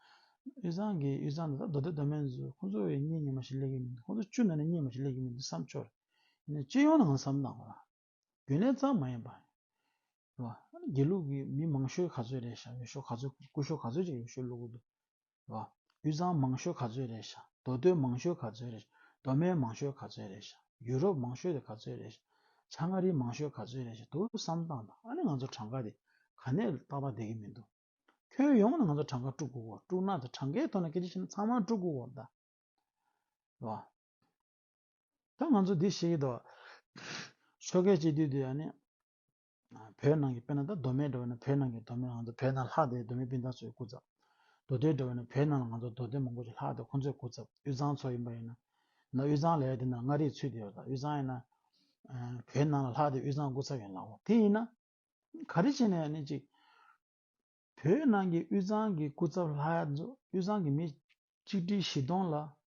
དབུས་གཙང་གི་དབུས་གཙང་དེ་དག་མདོ་སྟོད་མདོ་སྨད་ཚོ་ཁོང་ཚོ་བས་གཉིས་གཉིས་མ་ཞིག་ལས་ཀྱི་མིན་དུས་ཁོང་ཚོ་བཅུ་ན་ནས་གཉིས་མ་ཞིག་ལས་ཀྱི་མིན་དུས་བསམ་ཆོག་རེད་ཡིན་ནའི་སྤྱི་ཡོངས་ནང་བསམ་ན་ནང་པ་རྒྱུན་ལས་གཙང་མ་ཡིན་པ་རེད་དགེ་ལུགས་ཀྱི་མི་མང་ཤོས་ག་ཚོད་རེད་ཞག་ཡོད་ཤོག་ག་ཚོད་སྐུ་ཤོག་ག་ཚོད་ཅིག་ཡོད་ཤོག་ལུག་གུ་དུ་བ། དབུས་གཙང་མང་ཤོས་ག་ཚོད་རེད་ཤག་མདོ་སྟོད་མང་ཤོས་ག་ཚོད་རེད་ཤག་མདོ་སྨད་མང་ཤོས་ག་ཚོད་རེད་ཤག་ཡུ་རོབ་མང་ཤོས་དེ་ག་ཚོད་རེད་ཤག་བྱ་མངའ་རིས་མང་ཤོས་ག་ཚོད་རེད་ཤག་ཐུགས་བསམ་བཏང་དང་ཨ་ནི་ང་ཚོ་གྲངས་ཀ་དེ་ག་ནས་བཏགས་པ་བསྡད་ཀྱི་མི་འདུག་ཁྱོན་ཡོངས་ནས་ང་ཚོ་གྲངས་ཀ་དཀྲུག་དགོས་གོ་དཀྲུག་ན་དེ་གྲངས་ཀའི་ཐོག་ནས་སྐད་ཆ་བཤད་ན་ཚང་མ་དཀྲུག་དགོས་གོ་ད་བ། ད་ང་ཚོ་འདི་ཤེས་ཀྱི་འདུག་ཆོལ་ཁའི་སྤྱི་འཐུས་དེ་ཨ་ནི། བོད་ནང་གི་དཔེ་ན་ད་མདོ་སྨད་འགྲོ་བས་ན་བོད་ནང་གི་མདོ་སྨད་ང་ཚོ་བོད་ནང་ལྷག་བསྡད་མདོ་སྨད་སྤུན་ཟླ་ཚོའི་སྐུ་ཚབ། མདོ་སྟོད་འགྲོ་བས་ན་བོད་ནང་ལ་ང་ཚོ་མདོ་སྟོད་མང་པོ་ཞིག་ལྷག་བསྡད་ཁོང་ཚོའི་སྐུ་ཚབ་དབུས་གཙང་ཚོ་ཡིན་པ་ཡིན་ན། ད་དབུས་གཙང་ལས་དེ་ན་མངའ་རིས་ཚུད་དེ་ཡོད་ད་དབུས་གཙང་ཡིན་ན། བོད་ནང་ལ་ལྷག་བསྡད་དབུས་གཙང་སྐུ་ཚབ་ཡིན་ལགས་གོ་དེ་ཡིན་ན། ག་རེ་བྱས་ནས་ཡང་ནི་ཅིག། བོད་ནང་གི་དབུས་གཙང་གི་སྐུ་ཚབ་ལྷག་བསྡད་དབུས་གཙང་གི་མི་གཅིག་སྒྲིལ་བཞི་སྟོང་ལ་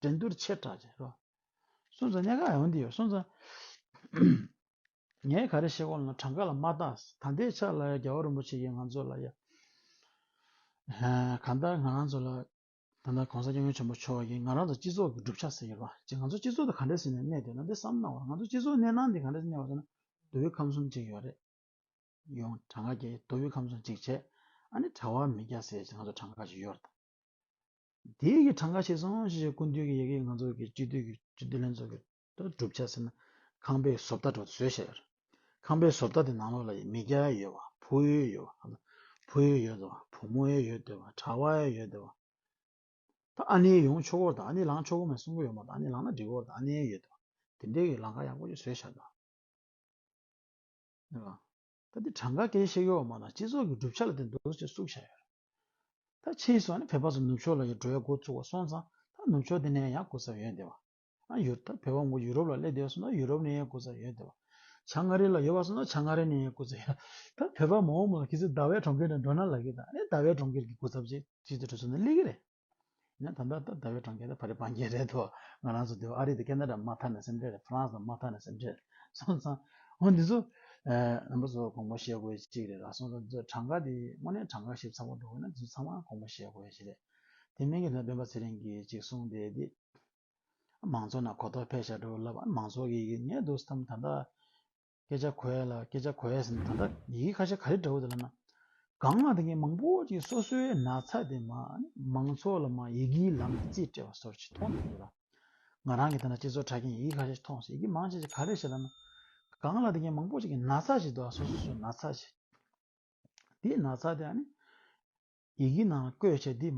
འགྲན་སྡུར་ཆེ་དྲགས་ཀྱི་རོ། སོན་རྩ་ཉལ་ཁ་ཡང་འདི་ཡོད་སོན་རྩ། ངས་ག་རེ་བཤད་གོ་ལ་གྲངས་ཀ་ལ་མ་བརྟགས་ད་ལྟའི་ཆ་ལ་རྒྱལ་བ་རིན་པོ་ཆེ་ཡིས་ང་ཚོ་ལ་ཡ། གང་ལྟར་ང་རང་ཚོ་ལ་ད་ལྟ་གོང་ས་སྐྱབས་མགོན་ཆེན་པོ་མཆོག་གིས་ང་རང་ཚོ་སྤྱི་ཚོགས་ཀྱི་གྲུབ་ཆ་ཟེར་ཡོད་པ་ཅིག་ང་ཚོ་སྤྱི་ཚོགས་དེ་ག་འདྲའི་ཟིན་ནས་གནས་འདོད་ན་འདི་བསམ་གནང་བ་ང་ཚོ་སྤྱི་ཚོགས་གནས་སྟངས་འདི་ག་འདྲའི་གནས་བ་ཟེར་ན་རྡོ་བའི་ཁམས་གསུམ་གཅིག་ཡོད་རེད་ཡོང་གྲངས་ཀ་གྱི་རྡོ་བའི་ཁམས་གསུམ་གཅིག་བྱས་ཨ་ནི་གྲྭ་བ་མི་བརྒྱ་ཟེར་ཅིག་ང་ཚོ་གྲངས་ཀ་ཅིག་ཡོད་རེད་དམ། དེའི་ཡི་གྲངས་འགའ་ཤས་སོང་ཞེས་བཤད་ཀུན་འདུས་ཀྱི་ཡི་གེ་ཡིས་ང་ཚོ་གི་སྤྱི་འཐུས་ཀྱི་སྤྱི་འཐུས་ལྷན་ཚོགས་ཀྱི་གྲུབ་ཆ་ཟེར་ན་ཁང་པའི་བཟོ་ལྟ་དྲོ་བཟོས་བཤད་ཡོད། ཁང་པའི་བཟོ་ལྟ་དེ་ནང་ལོགས་ལ་ཡི་མི་རྒྱ་ཡི་ཡོད་བ་ཕུ་ཡོའི་ཡོད་བ་ཨ་ཕུ་ཡོའི་ཡོད་དོ་བུ་མོ་ཡོའི་ཡོད་དོ་བ་གྲྭ་བ་ཡའི་ཡོད་དོ་བ། ད་ཨ་ནེའི་ཡོང་ཆོག་གོ་ད་ཨ་ནེ་ལངས་ཆོག་གོ་མ་གསུང་གི་ཡོད་མ་ད་ཨ་ནེ་ལངས་ན་འགྲིག་གོ་ད་ཨ་ནེའི་ཡོད་དོ་བ། དེ་འདྲའི་ཡི་ལངས་ཀ་ཡག་པོ་ཞིག་བཟོས་བཤད་དོ། ད་འདི་གྲངས་ཀ་གལ་ཆེ་གི་འོག་མ་ལ་སྤྱི་ཚོགས་ཀྱི་གྲུབ་ཆ་ལ་བརྟེན་འདུག་ཅེས་སུག་བཞག་ཡོད་རེད། ད་ཕྱིས་སུ་ཨ་ནི་བལ་བ་ཚོ་ནུབ་ཕྱོགས་ལ་ཡོད་འགྲོ་ཡ་འགོ་བཙུགས་བ་སོང་ཙང་ད་ནུབ་ཕྱོགས་དེ་ནས་ཡ་འགོ་ས་ཡོད་འདི་བ། ཨ་ཡུར་ད་བལ་བ་མགོ་ཡུ་རོབ་ལ་སླེབས་འདི་བ་སོང་ད་ཡུ་རོབ་ནས་ཡ་འགོ་ས་ཡོད་འདི་བ། བྱང་མངའ་རི་ལ་ཡོད་བ་སོང་ད་བྱང་མངའ་རི་ནས་ཡ་འགོ་ས་ཡོད། ད་བལ་བ་མང་བོ་མང་བོ་ཁྱེད་ཚོས་ཟླ་བའི་གྲོང་ཁྱེར་ནས་འགྲོ་ན་ལགས་ཀྱི་ད་ཨ་ནི་ཟླ་བའི་གྲོང་ཁྱེར་གྱི་འགོ་ཚབ་ཅིག་ཅིག་ཏུ་འགྲོ་ཚུལ་ནི་གླེགས་ཀྱི་རེད། ཡང་ད་ལྟ་ད་བའི་གྲོང་ཁྱེར་དེ་ཕ་རི་བྷ་འགྱེལ་རེད་དོ། ང་རང་ཚོ་དེ་བས་ཨ་རི་དང་ཀེ་ནཱ་རཱ་མ་མཐའ་ནས་སེམས་ཁྲལ། France དང་མ་མཐའ་ནས་སེམས་ཁྲལ། སོང་ཙང། འོ་འདི་ཚོ། རྣམ་པ་ཚོ་དགོངས་པ་བཞེས་དགོས་ཅིག་རེད་ལགས་སོང་ཙང་འདི་ཚོ་གྲངས་ཀ་དེ་དངོས་གནས་གྲངས་ཀ་ཞིབ་ཚགས་པོ་འགྲོ་དགོས་ན་འདི་ཚོ་ཚང་མ་དགོངས་པ་བཞེས་དགོས་ཞིག་རེད། དེ་མིན་གྱི་ལྷ་དཔོན་པ་ཚེ་རིང་གིས་ཅིག་གསུངས་བསྡད་དེ། མང་ཚོགས་རྣམས་གོ་རྟོགས་འཕེལ་བྱ་འགྲོ་བ་ལབ་ཨ་མང་ཚོགས་ཀྱིས་ངས་འདུག་སྟངས་ད་ལྟ། སྐད་ཆ་གོ་ཨེ་ལ་སྐད་ཆ་གོ་ཨེ་ཟེར་ན་ད་ལྟ་ཡི་གེ་ཁ་ཤས་ག་རེ་འདྲ་བོ་དེ་ལ་ན་གང་ལ་དེ་ངས་མང་པོ་ཅིག་སོ་སོའི་ན་ཚ་དེ་མ་མང་ཚོགས་ལ་མ་ཡི་གེའི་ལམ་ནས་རྩིས་སྤྲད་པ་སོར་ཆུད་མཐོང་འདུག་འདི་ལ་ང་རང་གིས་ཐ་ན་སྤྱི་ཚོགས་དྲ་རྒྱའི་ཡི་གེ་ཁ་ཤས་མཐོང་ཡི་གེ་མང་ཆེ་ཆེ་ག་རེ་བྱེད་ལ་ན་གང་ལ་དེ་ངས་མང་པོ་ཅིག་གི་ན་ཚ་བྱེད་དོ་ཨ་སོ་སོ་སོའི་ན་ཚ་བྱེད་དེའི་ན་ཚ་དེ་ཨ་ནི་ཡི་གེའི་ནང་ལ་བཀོད་བྱས་འདི་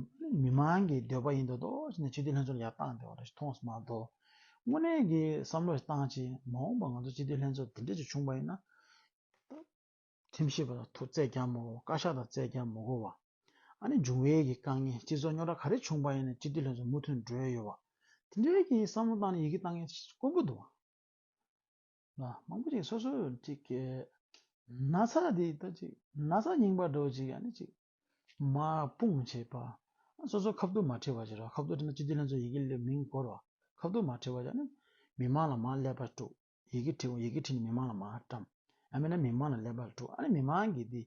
མི་མང་གི་འདོད་པ་ཡིན་འདོད་དོ་ཞེས་ནས་སྤྱི་འཐུས་ལྷན་ཚོགས་ལ་ཡར་བཏང་དེ་བ་རེད་མཐོང་སྨྲ་དོ། དངོས་གནས་ཀྱི་བསམ་བློ་ཞིག་བཏང་ཕྱིན་མ་འོངས་པར་ང་ཚོ་སྤྱི་འཐུས་ལྷན་ཚོགས་འདི་འདྲ་ཞིག་བྱུང་བ་ཡིན་ན། ཁྲིམས་ཞིབ་པ་དང་ཐུག་བརྩད་ཀྱང་མ་གོ་བཀའ་ཤག་དང་བརྩད་ཀྱང་མ་གོ་བ། ཨ་ནི་འབྱུང་བའི་གི་དཀའ་ངལ་སྤྱི་ཚོགས་རྙོག་དྲ་ག་རེ་བྱུང་བ་ཡིན་ན་སྤྱི་འཐུས་ལྷན་ཚོགས་མུ་མཐུད་འགྲོས་ཡོད་བ། དེ་འདྲའི་གི་བསམ་བློ་བཏང་ནས་ཡི་གེ་བཏང་མཁན་དཀོན་པོ་འདུག། ལ་མང་པོ་ཅིག་སོ་སོ་ཅིག་གི། ན་ཚ་དེ་ལྟ་ཅིག་ན་ཚ་རྙིང་པ་སྒྲོག་ཅིག་ཡང་ནི་ཅིག། མ་སྤུངས་བྱེད་པ། སོ་སོ་ཁ་བསྡུར་མ་ཁྲིད་པར་བྱེད་རོགས་ཁ་བསྡུར་ཁྲིད་ན་སྤྱི་འཐུས་ལྷན་ཚོགས་ཡི་གེ་ལས་མིང་བཀོལ་རོགས་ཁ་བསྡུར་མ་ཁྲིད་པར་བྱ་ན་མི་མང་ལ་མ་སླེབས་པར་དཀྲུག་ཡི་གེ་ཁྲིད་ཡི་གེ་ཁྲིད་ནས་མི་མང་ལ་མ་བཀྲམ། ཡང་མིན་ན་མི་མང་ལ་སླེབས་པར་དཀྲུག་ཨ་ནི་མི་མང་གིས་དེ་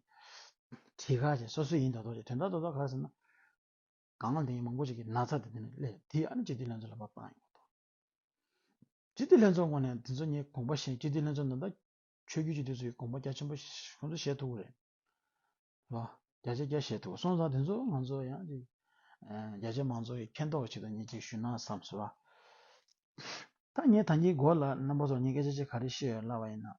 ཁྲིད་ཁ་ཅིག་སོ་སོ་ཡིན་དོགས་དོགས་ཅིག་དོན་དག་དོགས་དོགས་ཁ་ཟེར་ན། གང་ལྟེ་མང་པོ་ཅིག་གིས་ན་ཚ་དེ་དེ་ནས་སླེབས་དེ་ཨ་ནི་སྤྱི་འཐུས་ལྷན་ཚོགས་ལ་མ་སྤངས་ཡོང་དོགས། སྤྱི་འཐུས་ལྷན་ཚོགས་ངོས་ནས་དེ་ཚོ་ངས་དགོངས་པ་བཞིན་སྤྱི་འཐུས་ལྷན་ཚོགས་ནང་དང། ཆོས་རྒྱུད་ཀྱི་དེ་ཚོ་ཡི་དགོངས་པ་རྒྱ་ཆེན་པོ་ཁོང་ཚོ་བཞེས་ཐུབ་རེད། བ། རྒྱ་ཆེ་རྒྱ་བཞེས་ཐུབ་སོང་ཙང་དེ་ཚོ་ང་ཚོ་ཡང་ཅིག་རྒྱ་ཆེ་མང་ཚོགས་ཀྱི་མཁྱེན་རྟོགས་ཆེད་དུ་ངས་ཅིག་ཞུས་ན་བསམ་སོ། བ། ད་ངས་ད་ངའི་མགོ་ལ་རྣམ་པ་ཚོར་ངས་སྐད་ཆ་ཅིག་ག་རེ་བཤད་ཡོད་ལབ་པ་ཡིན་ན།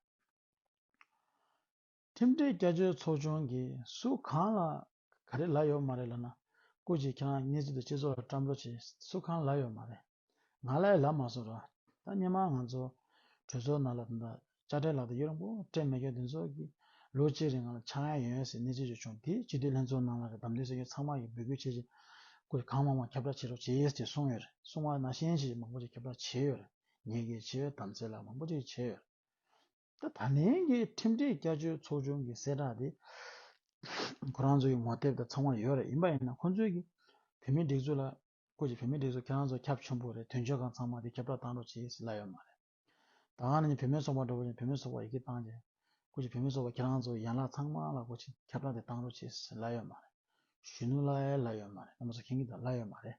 ཁྲིམས་སྒྲིག་བསྐྱར་བཅོས་ཚོགས་ཆུང་གིས་སུ་གང་ལ་ག་རེ་ལབ་ཡོད་མ་རེད་ལབ་ན་ཀུ་ཅི་ཁྱེད་རང་གཉིས་ཚུལ་དུ་སྤྱི་ཚོགས་ལ་བཀྲ་འབོད་བྱས་སུ་གང་ལབ་ཡོད་མ་རེད་ང་ལ་ཡང་ལབ་མ་སོང་ར་ད་སྙན་མ་ང་ཚོ་གྲོས་ཚོགས་ནང་ལ་ད་དཀྱ་སྤྲེལ་ལགས་དང་གཡུ་རིང་པོ་སྤྲེལ་མེ་སྐྱོ་འདི་ཚོ་གིས་ལོ་གཅིག་རིང་ང་ལ་ཆག་ཡང་ཡོན་ཡོན་ཟེར་གནས་ཚུལ་བརྗོད་བྱུང་དེ་སྤྱི་འཐུས་ལྷན་ཚོགས་ནང་ལ་རེད་དམ་དེ་སྲིད་སྐྱོང་ཚང་མ་གིས་འབོད་སྐུལ་བྱས་རྗེས་ཀུ་ཅི་གང་མང་མང་ཁྱབ་བསྒྲགས་བྱེད་རོགས་བྱས་ཅེས་གསུངས་ཡོད་རེད་གསུངས་བ་ན་ཤེས་ཡོན་ཆེད་མང་པོ་ཞིག་ཁྱབ་བསྒྲགས་བྱས་ཡོད་རེད་ཉེས་འགེལ་བྱས་ཡོད་དམ་ཚེ་ལ་མང་པོ་ཅིག་བྱས་ཡོད་རེད། ད་ད་ལན་གྱི་ཁྲིམས་སྒྲིག་བསྐྱར་བཅོས་ཚོགས་ཆུང་གི་གསལ་བསྒྲགས་དེ་ཁོ་རང་ཚོའི་ངོ་དེབ་དང་ཚང་བ་ཡོད་རེད་ཡིན་པ་ཡིན་ན་ཁོང་ཚོའི་གི་བུད་མེད་སྒྲིག་འཛུགས་ལ་བཀོད་ཅིག་བུད་མེད་སྒྲིག་འཛུགས་ཁྱེད་རང་ཚོ་ཁྱབ་ཆུང་པོ་རེད་དོན་གཅོད་ཁང་ཚང་མ་དེ་ཁྱབ་བསྒྲགས་གཏང་རོགས་བྱེད་ཡིས་ལབ་ཡོད་མ་རེད་ད་གང་ན་ནི་བུད་མེད་ཚོགས་པ་འགྲོ་བ་ཡིན་བུད་མེད་ཚོགས་པ་ཡི་གི་གཏང་ཅིག་བཀོད་ཅིག་བུད་མེད་ཚོགས་པ་ཁྱེད་རང་ཚོའི་ཡན་ལག་ཚང་མ་ལ་བཀོད་ཅིག་ཁྱབ་བསྒྲགས་དེ་གཏང་རོགས་བྱེད་ཡིས་ལབ་ཡོད་མ་རེད་གཞོན་ནུ་ལ་ཡས་ལབ་ཡོད་མ་རེད་ཨ་མ་ཚོ་ཁྱེད་ཀྱི་དང་ལབ་ཡོད་མ་རེད།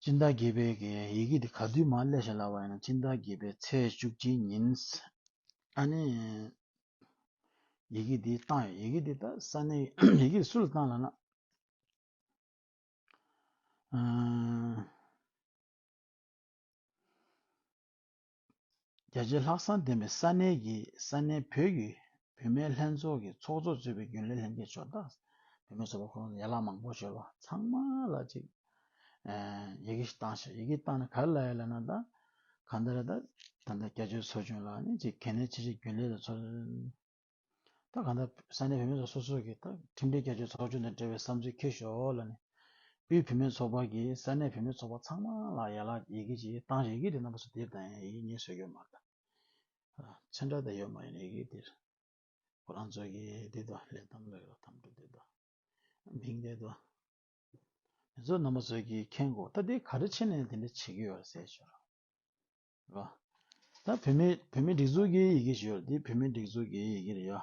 སྤྱིན་བདག་དགྱེས་པའི་གན་ཡི་གེ་འདི་ག་དུས་མ་སླེབས་བྱ་ལ་བ་ཡིན་ན་སྤྱིན་བདག་དགྱེས་པའི་ཚེས་བཅུ་གཅིག་ཉིན། ཨ་ནི། ཡི་གེ་འདི་བཏང་ཡོད་ཡི་གེ་འདི་ད་ས་ནི་ཡི་གེ་འདི་སུ་ལ་བཏང་ལ་ན། རྒྱ་ཆེའི་ལྷག་བསམ་ལྡན་པའི་ས་གནས་ཀྱི་ས་གནས་བོད་ཀྱི་བུད་མེད་ལྷན་ཚོགས་ཀྱི་ཚོགས་གཙོ་གཙོས་པའི་རྒྱུན་ལས་ལྷན་རྒྱས་ཕྱོགས་བདག་བུད་མེད་ཚོགས་པ་ཁོང་ཚོ་ཡན་ལག་མང་པོ་ཞེས་པ་ཚང་མ་ལ་ཅིག་ཡི་གེ་ཞིག་བཏང་ཞིག་ཡི་གེ་བཏང་ནས་ག་རེ་ལ་ཡོད་ལབ་ན་ད་གང་ལྟར་ད་ད་ལྟ་རྒྱ་ཆེའི་ཚོགས་ཆུང་ལ་ནི་ཅིག་གལ་གནད་ཆེ་ཆེ་རྒྱུན་ལས་དང་ཚོགས་ད་གང་ལྟར་ས་གནས་བུད་མེད་ཚོ་སོ་སོ་གིས་ད་ཁྲིམས་སྒྲིག་བརྒྱ་ཆའི་ཚོགས་ཆུང་དང་འབྲེལ་བའི་བསམ་ཚུལ་འཁྱེར་ཞོར་ལ་ནི། དབུས་བུད་མེད་ཚོགས་པ་གིས་ས་གནས་བུད་མེད་ཚོགས་པ་ཚང་མ་ལ་ཡན་ལག་ཡི་གེ་གཅིག་བཏང་ཞིང་ཡི་གེ་དེ་རྣམ་པ་སོ་དེབ་དང་ཡིག་རྙིང་སོ་ཡོད་མ་རེད། མཚན་འདྲ་དང་ཡོད་མ་ཡིན་ཡི་གེ་དེར། ཁོ་རང་ཚོ་གིས་དེ་དག་ལས་དམ་ལས་རོ་དམ་བྲོ་དེ་དག་མིང་དེ་དག་དེ་ཚོ་རྣམ་པ་ཚོ་གིས་མཁྱེན་དགོས་ད་དེ་ག་རེ་བྱེད་ནས་དེ་འདྲ་བྱེད་ཀྱི་ཡོད་རེད་ཟེར་ཞོར། ད་བོད་མི་བོད་མི་སྒྲིག་འཛུགས་ཀྱི་ཡི་གེ་ཞུས་ལ་འདི་བོད་མི་སྒྲིག་འཛུགས་ཀྱི་ཡི་གེ་རེད་ཡ།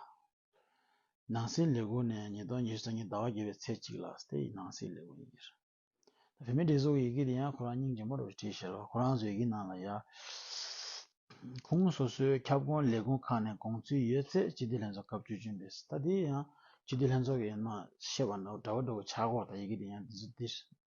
ནང་སྲིད་ལས་ཁུངས་ནས་ཉིས་སྟོང་ཉེར་བཞི་ཚེས་གཉིས་ཟླ་བ་བརྒྱད་པའི་ཚེས་གཅིག་ལ་སྟེ་ནང་སྲིད་ལས་ཁུངས་ཡི་གེ་རེད། བོད་མི་སྒྲིག་འཛུགས་ཀྱི་ཡི་གེ་དེ་ཡང་ཁོ་རང་སྙིང་རྗེ་མོ་རུ་བྲིས་ཞེས་ལ་ཁོ་རང་ཚོའི་ཡི་གེ་ནང་ལ་ཡ། ཁུངས་སོ་སོའི་ཁྱབ་ཁོངས་ལས་ཁུངས་ཁག་ནས་དགོངས་ཚུལ་ཡོད་ཚད་སྤྱི་བདེ་ལྷན་ཚོགས་སྐབས་བཅུ་བཅུ་འདིར་ད་འདི་ཡང་སྤྱི་བདེ་ལྷན་ཚོགས་ཀྱི་ཡིན་ནོ་ཞེས་པ་འདྲ་བོ་འདྲ་བོ་བྱ་དགོས་ད་ཡི་གེ་དེ་ཡང་འདི་ཚོ་འདིར་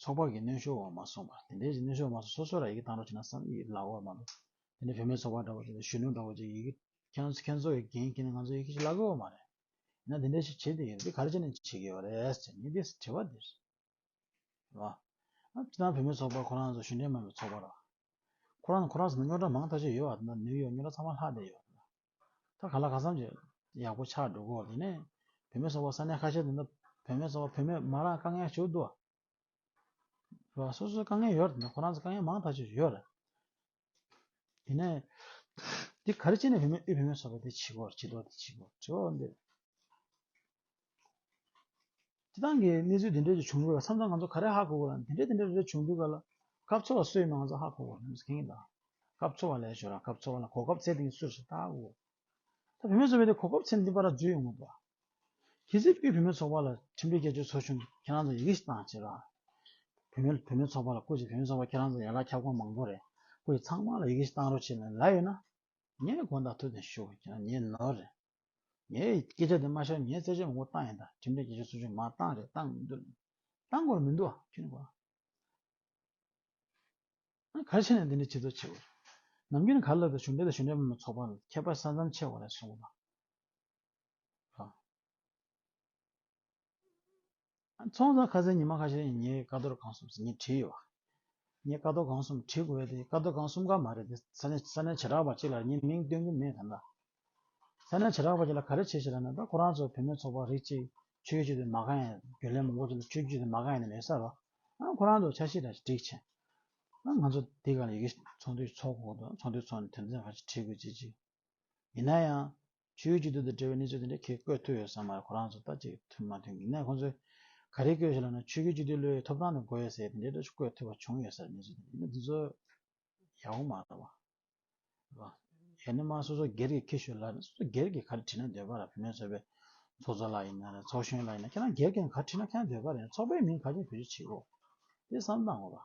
ཚོགས་པ་གི་གནོན་ཤོར་བ་མ་སོང་བ། དེ་འདྲའི་གནོན་ཤོར་བ་མ་སོང་སོ་སོ་ལ་ཡི་གེ་བཏང་རོགས་བྱས་ན་བསམ་ཡས་ལགས་འོ་མ་ལོ། དེ་འདྲའི་བུད་མེད་ཚོགས་པ་འདྲ་བོ་ཅིག་དང་གཞོན་ནུ་འདྲ་བོ་ཅིག་ཡི་གེ་ཁྱེད་ཚོ་ཁྱེད་ཚོ་ཡི་འགན་ཁྱེར་ནས་ང་ཚོ་ཡི་གེ་ཞིག་བླ་དགོས་བ་མ་རེད། ཡིན་ན་དེ་འདྲའི་ཞིག་བྱེད་དེ་ཡོད་རེད་ག་རེ་བྱས་ནས་བྱེད་དགོས་བ་རེད་ཟེར་ནས་དེ་དྲི་བ་འདིར། རེད་བ། ཅི་ལྟར་བུད་མེད་ཚོགས་པ་ཁོ་རང་ཚོ་གཞོན་ལྡན་མ་བའི་ཚོགས་པ་རེད་བ། ཁོ་རང་ཁོ་རང་ཚོ་ནང་རྙོག་དྲ་མང་ཐག་ཆོད་ཡོད་བ་དེ་འདྲ་ནུས་ཡོད་རྙོག་དྲ་ཚང་མ་ལྷག་བསྡད་ཡོད་བ་དེ་འདྲ། ད་ག་ལ་ག་བསམ་བྱས་ཡག་པོ་ཆགས་འགྲོ་གོ་དེ་ནས་བུད་མེད་ཚོ་བ་ས་གནས་ཁ་ཤས་དེ་འདྲ་བུད་མེད་ཚོ་བ་བུད་མེད་མ་རང་དཀའ་ངལ་བྱུག་འདུག་རེད་བ་སོ་སོའི་དཀའ་ངལ་ཡོད་རེད་ཁོ་རང་ཚོ་དཀའ་ངལ་མང་ཐག་ཆོད་ཡོད་རེད་དེ་ནས་དེ་ག་རེ་བྱས་ནས་བུད་མེད་དབུས་བུད་མེད་ཚོ་བ་དེ་བྱེད་གོ་བྱེད་འདུག་བྱེད་གོ་དྲི་བ་འདི་དེ་དང་གི་གནས་ཚུལ་དེ་འདྲའི་ཞིག་བྱུང་ཡོད་པ་མཚམས་མཚམས་ང་ཚོ་ག་རེ་ཧ་གོ་དགོས་ལ་དེ་འདྲའི་དེ་འདྲའི་རེ་རེ་བྱུང་དུས་ག་ལ། སྐབས་འཚོལ་བ་སུ་ཡིན་མིན་ང་ཚོ་ཧ་གོ་དགོས་ངེས་ཡིན་དཱ། སྐབས་འཚོལ་བ་ལས་ཞོར་རང་སྐབས་འཚོལ་བ་ལ་གོ་སྐབས་ཚད་ལྡན་གྱི་སུ་རེ་ཞིག་བལྟ་དགོས། ད་བུད་མེད་ཚོགས་པའི་དེ་གོ་སྐབས་ཚད་ལྡན་པ་ར་འཛུལ་ཡོང་གི་འདུག། གལ་སྲིད་པུས་བུད་མེད་ཚོགས་པ་ལ་ཁྲིམས་སྒྲིག་སྐྱེལ་རྒྱུ་ཚོར་བྱུང་ཁྱེད་རང་ཚོ་ཡི་གེ་ཞིག་བཏང་ཅིག་ར། བུད་མེད་བུད་མེད་ཚོགས་པ་ལ་བསྐུར་ཅིག་བུད་མེད་ཚོགས་པ་ཁྱེད་རང་ཚོ་ཡན་ལག་ཁྱབ་ཁོངས་མང་པོ་རེད་བསྐུར་ཅིག་ཚང་མ་ལ་ཡི་གེ་ཞིག་བཏང་རོགས་བྱས་ནས་ལ་ཡོད་ན། ངས་དགོངས་དག་ཐུགས་ནས་ཞུ་ཁྱེད་རང་ཉན་ནོ་རེད། ངའི་སྐད་ཆ་དེ་མ་ཤར་ངའི་བརྩད་གཅོད་མང་པོ་བཏང་ཡིན་ད་ཁྲིམས་འགལ་སྐད་ཆ་སུ་ཞིག་མ་བཏང་རེད་བཏང་མི་འདུག་བཏང་དགོས་མི་འདུག་ཨ་ཁྱོད་ནི་ག་རེ་བྱས་ནས་འདི་འདྲའི་བྱེད་རྩོད་བྱེད་དགོས་རེད་ནམ་རྒྱུན་ག་རེ་ལབ་དེ་གཞུང་འབྲེལ་དང་གཞུང་འབྲེལ་མིན་པའི་ཚོགས་པ་ལ་ཁྱད་པར་ས་མཚམས་ཆད་བ་རེད་སོང་པ་ཚོང་ཟོག་ཁ་ཟས་ཉི་མ་ཁ་ཤས་ཡིན་ངས་ཀ་རྡོར་གང་གསུམ་ཟེར་ངས་བྲིས་ཡོད། ངས་ཀ་རྡོ་གང་གསུམ་བྲིས་དགོས་པ་དེ་ཀ་རྡོ་གང་གསུམ་ག་མ་རེད་དེ་ས་གནས་ས་གནས་བྱེ་བྲག་པ་གཅིག་ལ་ངས་མིང་སྟོན་གྱི་མེད་དམ་ལ། ས་གནས་བྱེ་བྲག་པ་གཅིག་ལ་ག་རེ་བྱེད་ཞེས་ར་ན་ད་ཁོ་རང་ཚོ་བུད་མེད་ཚོགས་པ་རིགས་གཅིག་ཆོས་བརྒྱུད་དེ་མ་ག་ཡེ་རྒྱུན་ལས་མང་པོ་ཚོ་ལ་ཆོས་བརྒྱུད་དེ་མ་ག་ཡེ་ནི་མེད་ས་རོ། ཁོ་རང་ཚོ་ཆ་ཤས་ར་ཞིག་སྒྲིག་ཆེ། ང་ཚོ་འདི་ག་ལ་ཡི་གེ་ཚོགས་འདུས་ཚོགས་དགོས་དོན་ཚོགས་འདུས་ཚོགས་ནས་དོན་ཚན་ག་ཞིག་བྲིས་དགོས་བྱེད་ཅིག། ཡིན་ན་ཡང། ཆུའི་སྐྱིད་སྡུག་དང་འབྲེལ་བའི་གནས་ཚུལ་དེ་འདྲ་ཁྱེད་བཀོད་ཐུབ་ཡོད་ས་མ་རེད་ཁོ་རང་ཚོ་ལྟ་ཅི་ཐུབ་མ་ཐུབ་ངེད་ནས་ཁོང་ཚོའི་ག་རེ་བཀོད་ཞེས་ལབ་ན་ཆོས་རྒྱུད་སྤྱི་འཐུས་བློ་ཡོད་ཐོབ་ཐང་དང་གོ་ཡོད་ཟེར་ཡས་དེ་འདྲའི་འདྲ་ཆུ་བཀོད་ཐུབ་པ་བྱུང་ཡོད་ས་རེད་གནས་ཚུལ་དེ་འདྲ་ཡིན་ན་འདི་ཚོ་ཡག་པོ་མ་རེད་བ། ཡང་ནས་མ་སོ་སོ་སྒེར་གྱི་ཁྱི་ཤོད་ལབ་ན་སོ་སོ་སྒེར་གྱི་ག་རེ་བྲིས་ན་འདོད་པ་རེད་བུད་མེད་ཚོ་པའི་ཚོགས་གཙོ་ལ་ཡིན་ན་རེད་ཚོགས་གཞོན་ལ་ཡིན་ན་ཁྱེད་རང་སྒེར་གྱི་ནང་ག་རེ་བྲིས་ན་ཁྱེད་རང་འདོད་པ་རེད་ཚོགས་པའི་མིང་ག་རེ་བོད་ཆུ་བྱིས་གློག་དེ་བསམ་སྟངས་གོ་བ།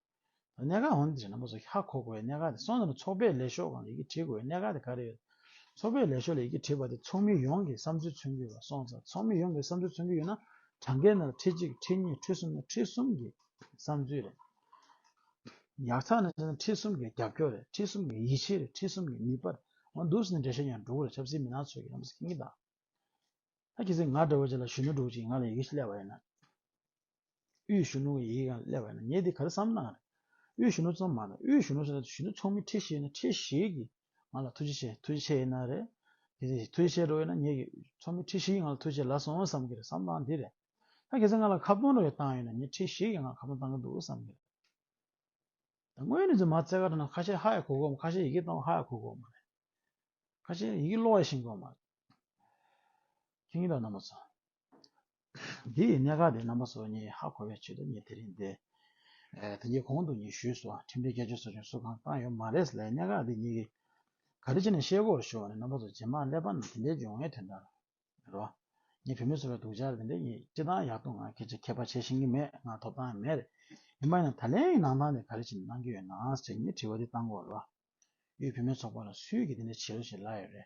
ད་གནད་འགག་འོན་ཏེ་ཞེ་ན་མོ་སོ་ཧྱ་གོ་དགོས་པའི་གནད་འགག་དེ་སོང་ཟིན་པ་ཚོགས་པའི་ལས་ཤོག་གང་ལ་ཡི་གེ་བྲིས་དགོས་པའི་གནད་འགག་དེ་ག་རེ་ཡོད། ཚོགས་པའི་ལས་ཤོག་ལ་ཡི་གེ་བྲིས་པ་དེ་ཚོགས་མི་ཡོངས་ཀྱི་བསམ་ཚུལ་མཚོན་གྱི་ལ་སོང་ཙང་ཚོགས་མི་ཡོངས་ཀྱི་བསམ་ཚུལ་མཚོན་གྱི་ཡོད་ན་གྲངས་ཀའི་ནང་ལ་ཁྲི་གཅིག་ཁྲི་གཉིས་ཁྲི་གསུམ་ན་ཁྲི་གསུམ་གྱི་བསམ་ཚུལ་རེད། ཡག་ཐག་ན་བྱས་ན་ཁྲི་གསུམ་གྱི་རྒྱབ་སྐྱོར་རེད་ཁྲི་གསུམ་གྱི་ཡིད་ཆེས་རེད་ཁྲི་གསུམ་གྱི་ནུས་པ་རེད་འོ་འདུག་ཟེར་ནས་འགྲེལ་བཤད་ཀྱང་འགྲོ་གི་རེད་ཆབ་སྲིད་མི་སྣ་ཚོས་ཀྱི་རེད་མ་ཟེར་གི་མི་གདའ། ད་གི་སེ་ང་འདྲ་བོ་ཅིག་ལ་གཞོན་ནུ་དྲུག་ཅིག་ང་ལ་ཡི་གེ་ཤི་ལས་པ་ཡིན་ན། དབུས་གཞོན་ནུ་ཡིས་ཀྱང་སླེབས་པ་ཡིན་ན་ངས་འདི་ག་རེ་བསམ་ན་རེད། དབུས་གཞོན་ནུ་ཙམ་མ་གཏོགས་དབུས་གཞོན་ནུ་ཟེར་ན་གཞོན་ནུ་ཚོགས་མི་ཁྲི་ཤེས་ན་ཁྲི་བཞི་གིས་ང་ལ་ཐུགས་རྗེ་ཆེ་ཐུགས་རྗེ་ཆེ་ཡིན་ན་རེད། དེ་ཐུགས་རྗེ་ཆེ་འགྲོ་ཡིན་ན་ངེད་ཀྱི་ཚོགས་མི་ཁྲི་བཞི་ཡིས་ང་ལ་ཐུགས་རྗེ་ལ་སོང་བསམ་གྱི་རེད་བསམ་སྟངས་འདི་རེད། ད་གལ་སྲིད་ང་ལ་ཁ་སྟོང་འགྲོ་བའི་སྟངས་ཡོད་ན་ངེད་ཁྲི་བཞི་གིས་ང་ཁ་སྟོང་བཏང་གི་འདུག་བསམ་གྱི་རེད། ད་དངོས་གནས་རྫུན་མ་རྩེ་གར་ན་ཁ་ཤས་ཧ་ཡ་གོ་གོ་མ་ཁ་ཤས་ཡི་གེ་བཏང་བ་ཧ་ཡ་གོ་གོ་མ་རེད། ཁ་ཤས་ཡི་གེ་ཀློག་ཡ་ཤིང་གོ་མ་རེད། མཁྱེན་གྱི་འདུག་ན་མོ་ཚོ། དེ་ཡི་གནད་འགག་དེ་རྣམ་པ་སོ་གཉིས་ཧ་གོ་བའི་ཆེད་དུ་ངས་དེ་རིང་འདི། དེ་གཉིས་གོང་དུ་ངས་ཞུས་སོང་ཁྲིམས་སྒྲིག་སྐད་ཆ་སོགས་ཀྱང་གསུ་གང་བཏང་ཡོད་མ་རེད་ལའི་གནད་འགག་དེ་གཉིས་ཀྱི། ག་རེ་བྱས་ནས་ཤེས་སྒོར་ཤོར་བ་ནི་རྣམ་པ་སོ་ཇེ་མང་ཀླད་པ་རྣམས་དེ་འདྲའི་འཇོན་ངེས་དོན་དག་རེད། ངས་བོད་མི་ཚོ་ལ་སྡུག་ཅག་དེ་འདྲའི་ངས་སྤྱི་སྟངས་ཡག་ཏུ་ང་སྐད་ཆ་མཁས་པ་བྱེད་བཞིན་གྱི་མེད་ང་ཐོབ་ཐང་མེད། ཡིན་པ་ཡིན་ན་ད་ལན་ཡི་ནང་ཐང་དེ་ག་རེ་བྱས་ནས་གནང་གི་ཡོད་ནའང་ཟེར་ངས་དྲི་བ་དེ་བཏང་གོ་རེད། དབུས་བོད་མི་ཚོགས་པ་ལ་སུས་ཀྱིས་དེ་འདྲ་བྱེད་རོགས་ཞེས་ལབ་ཡོད་རེད།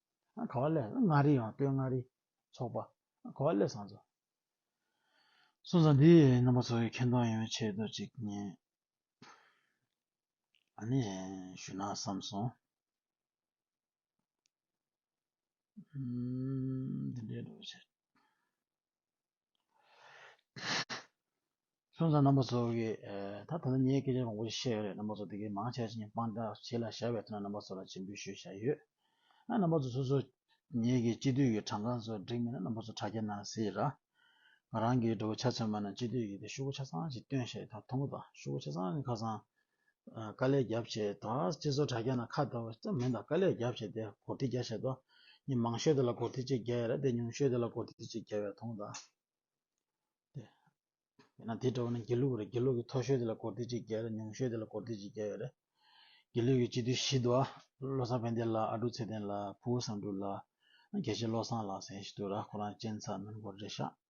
ག་བ་ལས་མངའ་རིས་ཡང་སྟོད་མངའ་རིས་ཚོགས་པ་ག་བ་ལས་བཟང་ཚོ། སོང་ཙང་འདི་རྣམ་པ་ཚོ་གི་མཁྱེན་མཐོང་ཡོང་བའི་ཆེད་དུ་ཅིག་ཨ་ནི་ཞུ་ན་བསམ་སོང། འདི་འདྲའི་འགྲོ་བ་ཆེ། ཁྱོད་ཚོ་རྣམ་པ་ཚོ་གིས་ད་ཐེངས་ངའི་སྐད་ཆ་དང་པོ་ཞིག་བཤད་ཡོད་རེད་རྣམ་པ་ཚོ་དེ་གའི་མང་ཆེ་བ་ཞིག་ངས་དཔང་རྟགས་བྱས་ལ་བཞག་པའི་ཐོག་ནས་རྣམ་པ་ཚོ་ལ་ཇི་འབུལ་ཞུས་བཞག་ཡོད། ཨ་རྣམ་པ་ཚོ་སོ་སོས་ངེད་ཀྱི་སྤྱི་འཐུས་ཀྱི་གྲངས་ཀ་ཚོ་བསྒྲིགས་མེད་ན་རྣམ་པ་ཚོ་དྲ་རྒྱ་ནང་གཟིགས་ར། ང་རང་གིས་འགྲོ་བའི་ཆ་ཚོད་མ་ནས་སྤྱི་འཐུས་ཀྱི་དེ་ཤུགས་པོ་ཆ་ཚང་ཞིག་བཏོན་བཞག་ཡོད་ད་མཐོང་གོ་ད་ཤུགས་པོ་ཆ་ཚང་ནི་ཁ་སང་དཀའ་ལས་རྒྱབ་བྱས་ད་སྤྱི་ཚོགས་དྲ་རྒྱ་ན་ཁ་བརྡ་བ་ཅི་མི་དང་དཀའ་ལས་རྒྱབ་བྱས་དེ་གོ་བདེ་རྒྱ་བྱས་ཏོ། ཉི་མང་ཤོས་དེ་ལ་གོ་བདེ་ཅིག་རྒྱ་ཡས་ར་དེ་ཉུང་ཤོས་དེ་ལ་གོ་བདེ་ཅིག་རྒྱ་བས་ཐོང་ད། དེ་ན་དེ་འདྲ་བ་ན་དགེ་ལུགས་རེད་དགེ་ལུགས་ཀྱི་མཐོ་ཤོས་དེ་ལ་གོ་བདེ་ཅིག་རྒྱ་ར་ཉུང་ཤོས་དེ་ལ་གོ་བདེ་ཅིག་རྒྱ་ཡས་རེད། དགེ་ལུགས་ཀྱི་སྤྱི་འཐུས་བཞི་དོ། བློ་བཟང་བན་དེ་ལགས་ཨ་འབྲུག་ཚེ་བརྟན་ལགས་ཕུ་བོ་བཟང་འབྲུག་ལགས། རྒྱལ་གཅེས་བློ་བཟང་ལགས་སེང་ཞིག་དུ་ར་ཁོ་རང་གཅན་ཚ་མོན་གོར་རེད་ཤག།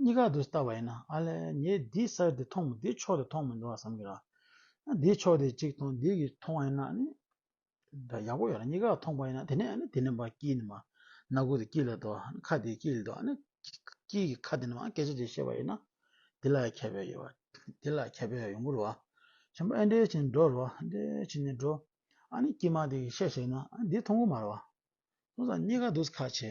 གཉིས་ཀ་དུ་ལྟ་བ་ཡིན་ན་ཨ་ལས་ངས་འདིའི་ས་དེ་མཐོང་མི་འདིའི་ཕྱོགས་དེ་མཐོང་མི་འདུག་བསམ་གི་ར། འདིའི་ཕྱོགས་དེ་གཅིག་མཐོང་འདི་གཉིས་མཐོང་བ་ཡིན་ན་ནི་འདྲ་ཡག་པོ་ཡོད་རེད་གཉིས་ཀ་མཐོང་པ་ཡིན་ན་དེ་ནས་ནི་དེ་ནི་འབའ་སྐྱིད་ནི་མ་སྣ་དགུ་དེ་སྐྱིད་ལ་དོ་ཁ་དེ་སྐྱིད་ལ་དོ་ནི་སྐྱིད་ཀྱི་ཁ་དེ་ནི་མ་སྐད་ཆ་དེ་བཤད་པ་ཡིན་ན་དེ་ལ་ཁྱད་པས་ཡོད་པ་དེ་ལ་ཁྱད་པས་ཡོང་གི་རུ་བ་ཆེན་པོ་ཨེ་འདྲའི་བྱས་ནས་འགྲོ་རུ་བ་ཨེ་འདྲའི་བྱས་ནས་འགྲོ་ཨ་ནི་སྐྱིད་མ་དེ་གི་བཤད་བཤད་ན་འདི་མཐོང་གི་མ་རུ་བ་སོང་ཙང་གཉིས་ཀ་དུ་ཁ་ཆེ།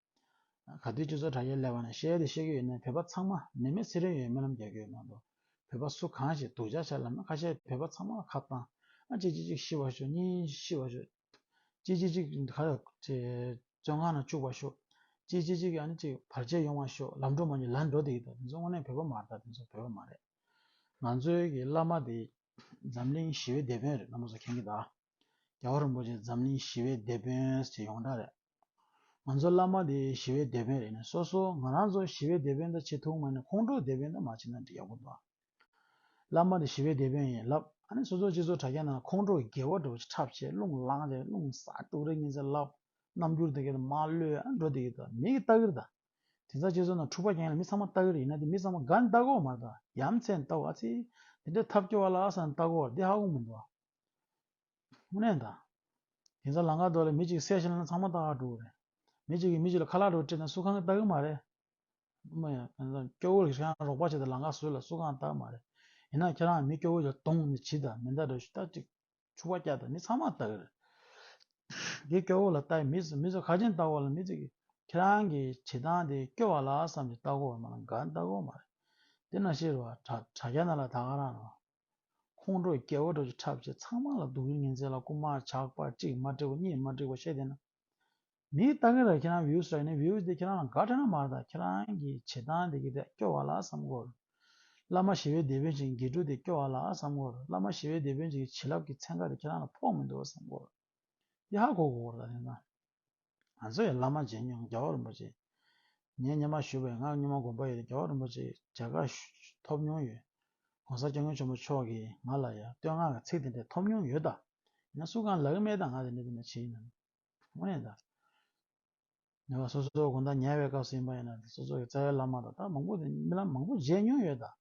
ག་དུས་སྤྱི་ཚོགས་དྲ་རྒྱའི་ཀླད་པ་ནས་ཤེས་ཡོད་དེ་ཤེས་ཀྱི་ཡོད་ནའི་བོད་པ་ཚང་མ་ནད་མེད་ཚེ་རིང་ཡོད་སྨོན་ལམ་རྒྱག་གི་ཡོད་མ་གཏོགས་བོད་པ་སུ་གང་ཞིག་དུག་བྱ་བྱ་ལབ་ན་ཁ་ཤས་བོད་པ་ཚང་མ་ལ་ཁ་བཏང་ཨ་ཅེ་ཅི་ཅིག་ཤི་བར་ཤོག་གཉིས་ཤི་བར་ཤོག་ཅི་ཅི་ཅིག་ག་རེ་བཙོན་ཁང་ན་བཅུག་པར་ཤོག་ཅི་ཅི་ཅིག་ཨ་ནི་ཅིག་བར་ཆད་ཡོང་བར་ཤོག་ལམ་འགྲོ་མ་གཉིས་ལ་འགྲོ་དེ་ཡིན་དོ་དེ་ཚོ་དངོས་གནས་བོད་པ་མ་རེད་ད་དེ་ཚོ་བོད་པ་མ་རེད་ང་ཚོའི་གི་བླ་མ་དེ་འཛམ་གླིང་ཞི་བའི་དེད་དཔོན་རེད་ན་མོ་ཚོ་མཁྱེན་གི་ད་རྒྱ་བོ་རིན་པོ་ཆེ་འཛམ་གླིང་ཞི་བའི་དེད་དཔོན་ཞེས་ཡོངས་གྲགས་རེད་ང་ཚོ་བླ་མ་དེ་ཞི་བའི་སྡེ་དཔོན་རེད་ནས་སོ་སོ་ང་རང་ཚོ་ཞི་བའི་སྡེ་དཔོན་དང་བྱེད་ཐུང་མ་ནས་ཁོང་ཁྲོ་སྡེ་དཔོན་དང་མ་བྱེད་ན་འདྲི་ཡག་པོ་འདུག་ཨ། བླ་མ་དེ་ཞི་བའི་སྡེ་དཔོན་ཡིན་ལབ་ཨ་ནས་སོ་སོ་སྤྱི་ཚོགས་དྲ་རྒྱ་ནང་ཁོང་ཁྲོ་རྒྱལ་བོ་འགྲོ་བྱེད་འཁྲབ་བྱེད་རླུང་བསླང་བྱེད་རླུང་གསར་དཀྲུག་རེ་གཉིས་ཟེར་ལབ་རྣམ་འགྱུར་དེ་གས་ད་མ་བློས་ཨ་འགྲོ་དེ་གས་ད་མི་གས་ལྟ་གིར་ད་དེ་ཚ་སྤྱི་ཚོགས་ནང་འཁྲུག་པ་རྐྱེན་ལ་མི་ཚང་མ་ལྟ་གིར་ཡིན་ན་དེ་མི་ཚང་མ་ག་ལྟ་གོ་མ་ད་ཡ་མཚན་ལྟ་འོ་ཨ་ཚེ་དེ་འདྲས་ཐབས་སྐྱོ་བ་ལ་ཨ་ས་ནས་ལྟ་གོ་འདི་ཧ་གོ་མི་འདུག་ཨ། དངོས་གནས་དང། དེང་སང་ལང་ཀ་རྡོ་ལས་མི་གཅིག་གསལ་བཤད་གནང་ན་ཚང་མ་ལྟ་ག་འགྲོ་གི་རེད། མི་གཅིག་གིས་མི་གཅིག་ལ་ཁ་ལག་འགྲོ་སྤྲད་ན་སུ་གང་གིས་ལྟ་གི་མ་རེད། སྐྱོ་བོ་རིགས་ཁྱེད་རང་རོགས་པ་བྱེད་ད་ལང་ཀ་བཟོས་ལ་སུ་གང་ལྟ་གི་མ་རེད། ཡིན་ན་ཁྱེད་རང་མི་སྐྱོ་བོ་ཡར་གཏོང་ནས་བྱིས་ད་མི་ད་རེད་ཤུ་ད་ཅིག་ཕྱུ་བ་སྐྱག་ད་མི་ཚང་མ་ལྟ་གི་རེད། དེ་སྐྱོ་བོ་ལ་ལྟ་ཡི་མི་ཚོ་མི་ཚོ་ཁ་ཆེམས་ལྟ་གོ་ལ་མི་ཚིག་གིས་ཁྱེད་རང་གི་བྱེད་སྟངས་དེ་སྐྱོ་བ་ལགས་བསམ་ཅིག་ལྟ་གོ་བ་མ་ལ་འགའ་ལྟ་གོ་མ་རེད། དེ་ན་ཤེས་རོ་བ་དྲ་རྒྱ་ན་ལ་ད་ག་རང་རོགས། ཁོང་ཁྲོ་རྒྱལ་བ་ཁྲོ་ཆུ་ཁྲབ་བྱེད་ཚང་མ་ལ་སྡུག་རུས་ངན་ཚད་ལ་རྐུ་མ་ཇག་པ་གཅིག་མ་འགྲིག་པ་གཉིས་མ་འགྲིག་པ་བཤད་དེ་ན་མིའི་ལྟ་མཁན་ར་ཁྱེད་རང views ར་ཡིན་ན views དེ་ཁྱེད་རང་ལ་དགའ་འཕྲད་ན་མར་ད་ཁྱེད་རང་གི་བྱེད་སྟངས་དེ་གི་དེ་སྐྱོ་བ་ལ་བསམ་གོ། བླ་མ་ཞི་བའི་སྡེ་དཔོན་གྱི་འགལ་འཁྲུ་དེ་སྐྱོ་བ་ལ་བསམ་གོ་བླ་མ་ཞི་བའི་སྡེ་དཔོན་གྱི་བྱིན་རླབས་ཀྱི་ཚན་ཁ་དེ་ཁྱེད་རང་ལ་ཕོག་མི་འདུག་བསམ་གོ། ཡ་ཧ་གོ་གོ་གོ་ར་ད་ནི་ན། ང་ཚོ་ཡི་བླ་མ་རྗེ་ཉུང་རྒྱལ་བ་རིན་པོ་ཆེ། ངས་སྙེ་མར་བཞུགས་པའི་སྔགས་སྙེ་མ་དགོན་པ་ཡི་རྒྱལ་བ་རིན་པོ་ཆེའི་མཇལ་ཁ་ཐོབ་མྱོང་ཡོད། ྋགོང་ས་སྐྱབས་མགོན་ཆེན་པོ་མཆོག་གིས་ང་ལ་ཡང་བསྟོད་བསྔགས་ཀྱི་ཚིག་དེ་འདྲ་ཐོབ་མྱོང་ཡོད་ད། ཡིན་ན་སུ་གང་ལག་སྨྲས་དང་ང་དེ་འདྲ་དེ་འདྲ་བྱེད་ཡིན་ནམ། དངོས་གནས་ད། ཉེ་བར་སོ་སོའི་དགོན་བདག་ཉལ་བའི་སྐབས་སུ་ཡིན་པ་ཡིན་ན་སོ་སོ་ཡི་རྩ་བའི་བླ་མ་དང་ད་མང་པོ་དེ་རྨི་ལམ་མང་པོ་མཇལ་མྱོང་ཡོད་ད།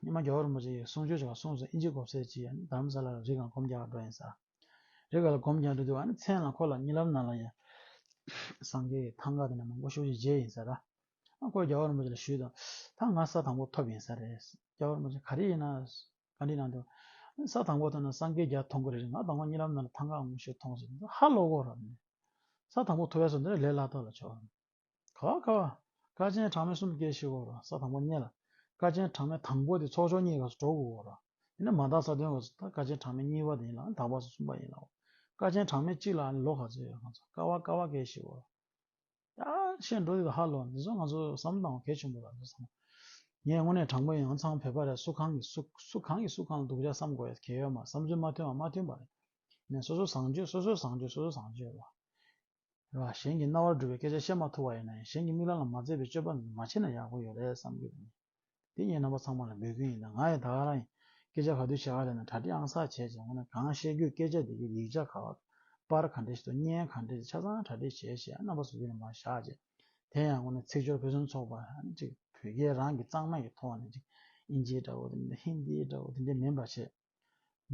སྙེ་མ་རྒྱ་བོར་མི་རིགས་གསུང་ཆོས་བྱ་བ་གསུངས་སོ་ཨིན་ཇི་གོབས་སེར་གྱིས་ཡང་དམ་ས་ལ་རིགས་གང་གོམས་རྒྱག་འགྲོ་ཡིན་ས་རེད་ག་ལ་གོམས་རྒྱག་འགྲོ་འདུག་ཨ་ནི་མཚན་ལ་ཁོ་ལ་གཉིད་ལམ་ནང་ལ་ཡང་སངས་རྒྱས་ཀྱི་ཐང་ག་དེ་ནས་མང་པོ་ཤོར་གྱི་རྗེས་ཡིན་ས་ར་ཨ་ཁོས་རྒྱ་བོར་མི་རིགས་ལ་ཞུས་དང་ད་ང་ས་དང་པོ་ཐོབ་ཡིན་ས་རེད་རྒྱ་བོར་མི་རིགས་ག་རེ་ཡིན་ན་ག་འདྲི་གནང་འདུག་ཨ་ས་དང་པོ་ཐོན་ན་སངས་རྒྱས་རྒྱ་མཐོང་གི་རེད་ང་དང་པོ་གཉིད་ལམ་ནང་ལ་ཐང་ག་ངོ་ཤེས་མཐོང་སོང་ཧ་ལོ་གོ་ར་ཨ་ནི་ས་དང་པོ་ཐོབ་ཡག་སོ་འདི་ར་ལས་ལ་དོག་ལ་ཆོག་ཁ་བ་ཁ་བ། ཀ་ཆེན་གྲངས་མེད་གསུམ་སྐྱེ་ཤི་བོ་ར་ས་དང་པོ་རྙེད་ལ། ཀ་ཆེན་གྲངས་མེད་དང་པོ་དེ་ཚོགས་ཆོག་གཉིས་ག་སུ་གྲོགས་དགུ་བོ་ར། ཡིན་ན་མ་དག་ས་དོན་ག་སུ་ད་ཀ་ཆེན་གྲངས་མེད་གཉིས་པ་དེ་ཡིན་ལ་ཨང་དག་པ་སུ་གསུམ་པ་ཡིན་ལ་འོ། ཀ་ཆེན་གྲངས་མེད་གཅིག་ལ་ཨ་ནི་ལོ་ག་ཚོད་ཡོད་གང་ཚོད་ཀ་བ་ཀ་བ་སྐྱེ་ཤི་བོ་ར། ཡ། བཤད་འགྲོ་དེ་དང་ཧ་ལོ་འདི་ཚོ་ང་ཚོ་བསམ་སྟངས་གལ་ཆེན་པོ་ར་འདི་ཚང་མ། ངས་དངོས་གནས་དྲང་པོ་ཡིན་ཨང་ཚང་བོད་པ་རེད་སུ་གང་གི་སུ་སུ་གང་གི་སུ་གང་ལ་སྡུག་ཅག་བསམ་དགོས་ཡ་གལ་ཡོད་མ་བསམ་ཚུལ་མ་མཐུན་བ་མ་མཐུན་པ་རེད། ནས་སོ་སོ་བཟང་སྤྱོད་སོ་སོའི་བཟང་སྤྱོད་སོ་སོ་བཟང་སྤྱོད་ར། རེད་བ། གཞན་གྱི་རྣ་བར་འགྲོ་བའི་སྐད་ཆ་བཤད་མ་ཐུབ་བ་ཡིན་ན་ཡང་གཞན་གྱི་མིག་ལམ་ལ་མ་འཛེགས་པའི་སྤྱོད་པ་མ་བྱས་ན་ཡག་པོ་ཡོད་རེད་བསམ་གྱི་རེད། འདི་ངའི་རྣམ་པ་ཚང་མ་ལ་འབོད་སྐུལ་ཡིན་ད་ང་ཡང་ད་ག་རང་ཡིན་སྐད་ཆ་ག་དུས་བཤད་ག་ལས་ན་གྲ་སྒྲིག་ཨང་སར་བྱས་བྱས་ངོ་ན་གང་བཤད་རྒྱུ་སྐད་ཆ་དེ་གའི་ཡིག་ཆ་ག་པར་ག་འདྲེ་ཞིག་ཏུ་བརྙན་ག་འདྲེ་ཞིག་ཆ་ཚང་གྲ་སྒྲིག་བྱས་བྱས་རྣམ་པ་ཟུར་ལ་མ་བཞག་བྱས་དེ་ཡང་ངོ་ན་ཚིག་སྦྱོར་ཕུན་སུམ་ཚོགས་པ་ཅིག་བོད་སྐད་རང་གི་གཙང་མ་ཡི་ཐོག་ནས་ཅིག་དབྱིན་ཇིའི་འདྲ་བོ་དེ་འདྲ་ཧིན་དིའི་འདྲ་བོ་དེ་འདྲ་མིན་པ་བྱས།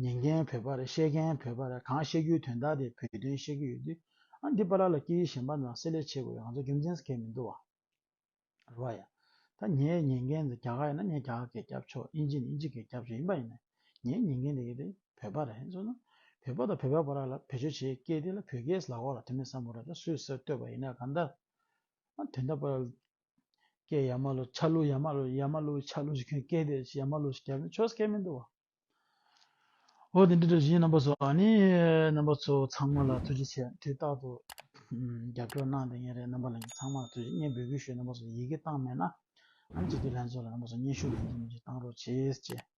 ཉན་མཁན་བོད་པར་བཤད་མཁན་བོད་པར་གང་བཤད་རྒྱུའི་དོན་དག་དེ་བོད་དོན་བཤད་ཀྱི་ཡོད་དུས་ཨ་འདི་པ་ལ་ལ་སྐྱིད་ཡིག་གཞན་པ་དང་བསྲེ་ལས་བྱེད་དགོས་ཡང་ཚོ་རྒྱུ་མཚན་ཟེར་མཁན་མི་འདུག་བ། རེད་བ་ཡ། ད་ངས་ཉན་མཁན་དེ་རྒྱ་གར་ཡིན་ན་ངས་རྒྱ་གར་གས་རྒྱབ་ཆོག་དབྱིན་ཇི་ནི་དབྱིན་ཇི་གས་རྒྱབ་ཆོག་ཡིན་པ་ཡིན་ན་ངས་ཉན་མཁན་དེ་གས་དེ་བོད་པ་རེད་མཚོན་ན་བོད་པ་དང་བོད་པའི་བར་ལ་ལ་བེད་སྤྱོད་བྱེད་སྐད་དེ་ལ་བོད་སྐད་ལ་ཁོག་ལ་དེ་མེད་བསམ་བོ་ར་ད་སུས་ཟེར་བསྟོད་པ་ཡིན་ན་གང་ལྟར་ཨ་དོན་དག་པ་ལ་སྐད་ཡག་མ་ལོ་ཆ་ལུགས་ཡག་མ་ལོ་ཡག་མ་ལུགས་ཆ་ལུགས་ཞིག་སྐད་དེ་ཡག་མ་ལུགས་ཞིག་ཆོས་སྐད་མི་འདུག་བ། འོ་དེ་འདྲ་འདྲ་བཞིན་རྣམ་པ་ཚོ་ཨ་ནི་རྣམ་པ་ཚོ་ཚང་མ་ལ་ཐུགས་རྗེ་ཆེ་དུས་རྟག་ཏུ་རྒྱབ་སྐྱོར་གནང་དེ་ངས་རེད་རྣམ་པ་ལ་ཚང་མར་ཐུགས་རྗེ་སྙན་འབུལ་གུས་ཞུ་རྣམ་པ་ཚོ་ཡི་གེ་བཏང་མེད་ན་ཨ་ནི་སྤྱི་འཐུས་ལྷན་ཚོགས་ལ་རྣམ་པ་ཚོ་སྙན་ཞུ་ལན་འདེབས་མི་བྱེད་གཏང་རོགས་བྱེད་ཅེས།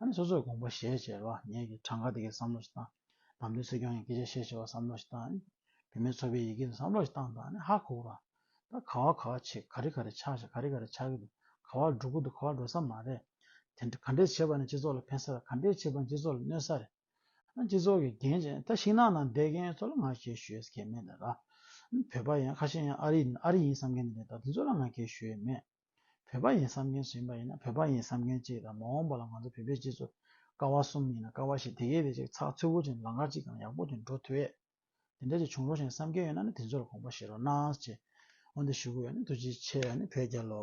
ཨ་ནི་སོ་སོར་དགོངས་པ་ཞེས་བྱ་བ་ངེད་ཀྱི་གྲངས་ཀ་དེ་གས་བསམ་བློ་ཞིག་བཏང། བམ་པོའི་སྲིད་སྐྱོང་ཡང་སྐད་ཆ་བཤད་བྱས་བར་བསམ་བློ་ཞིག་བཏང། བུད་མེད་ཚོ་པའི་ཡི་གེ་ནི་བསམ་བློ་ཞིག་བཏང་དང་ཧ་གོ་བ། ད་ག་བ་ག་བ་བྱེད་ག་རེ་ག་རེ་ཆགས་བྱེད་ག་རེ་ག་རེ་ཆགས་ཀྱི་འདུག་ག་བ་འགྲོ་གི་འདུག་ག་བ་འགྲོ་ས་མ་རེད། དེ་འདྲ་ག་འདྲས་བྱེད་པ་ནི་སྤྱི་ཚོགས་ལ་ཕན་ས་རེད་ག་འདྲས་བྱེད་པ་ནི་སྤྱི་ཚོགས་ལ་གནོད་ས་རེད། ཨ་ནི་སྤྱི་ཚོགས་ཀྱི་འགན་བྱེད་ད་ཤིང་ནགས་ནང་བསྡད་མཁན་ཚོ་ལ་ང་གས་ཞུ་ཡས་ཀས་མེད་ད། ཨ་ནི་བོད་པ་ཡང་ཁ་ཤས་ཡང་ཨ་རི་ཡིན་ཨ་རི་ཡིན་བསམ་མཁན་དེ་འདྲས་ད་དེ་ཚོ་ལ་ང་གས་ཞུ་ཡས་མེད། བོད་པ་ཡིན་བསམ་མཁན་སུ་ཡིན་པ་ཡིན་ན་བོད་པ་ཡིན་བསམ་མཁན་གཅིག་དང་མ་འོངས་པ་ལ་ང་ཚོ་བོད་པའི་སྤྱི་ཚོགས་ཀ་བ་གསུམ་ཡིན་ན་ཀ་བ་བཞི་དེ་གས་དེ་གཅིག་ཚགས་ཚུད་པོ་ཅིག་ལང་ཀ་གཅིག་དང་ཡག་པོ་ཅིག་འགྲོ་ཐུ་ཡས་དེ་འདྲ་ཅིག་བྱུང་རོགས་ཞེས་བསམ་མཁན་ཡོད་ན་ནི་དེ་ཚོ་ལ་དགོངས་པ་བཞེས་རོགས་གནང་ཞེས་འོ་འདི་ཞུ་གི་ཡོད་ནི་ཐུགས་རྗེ་ཆེ་ཡ་ནི་བོད་རྒྱལ་ལོ།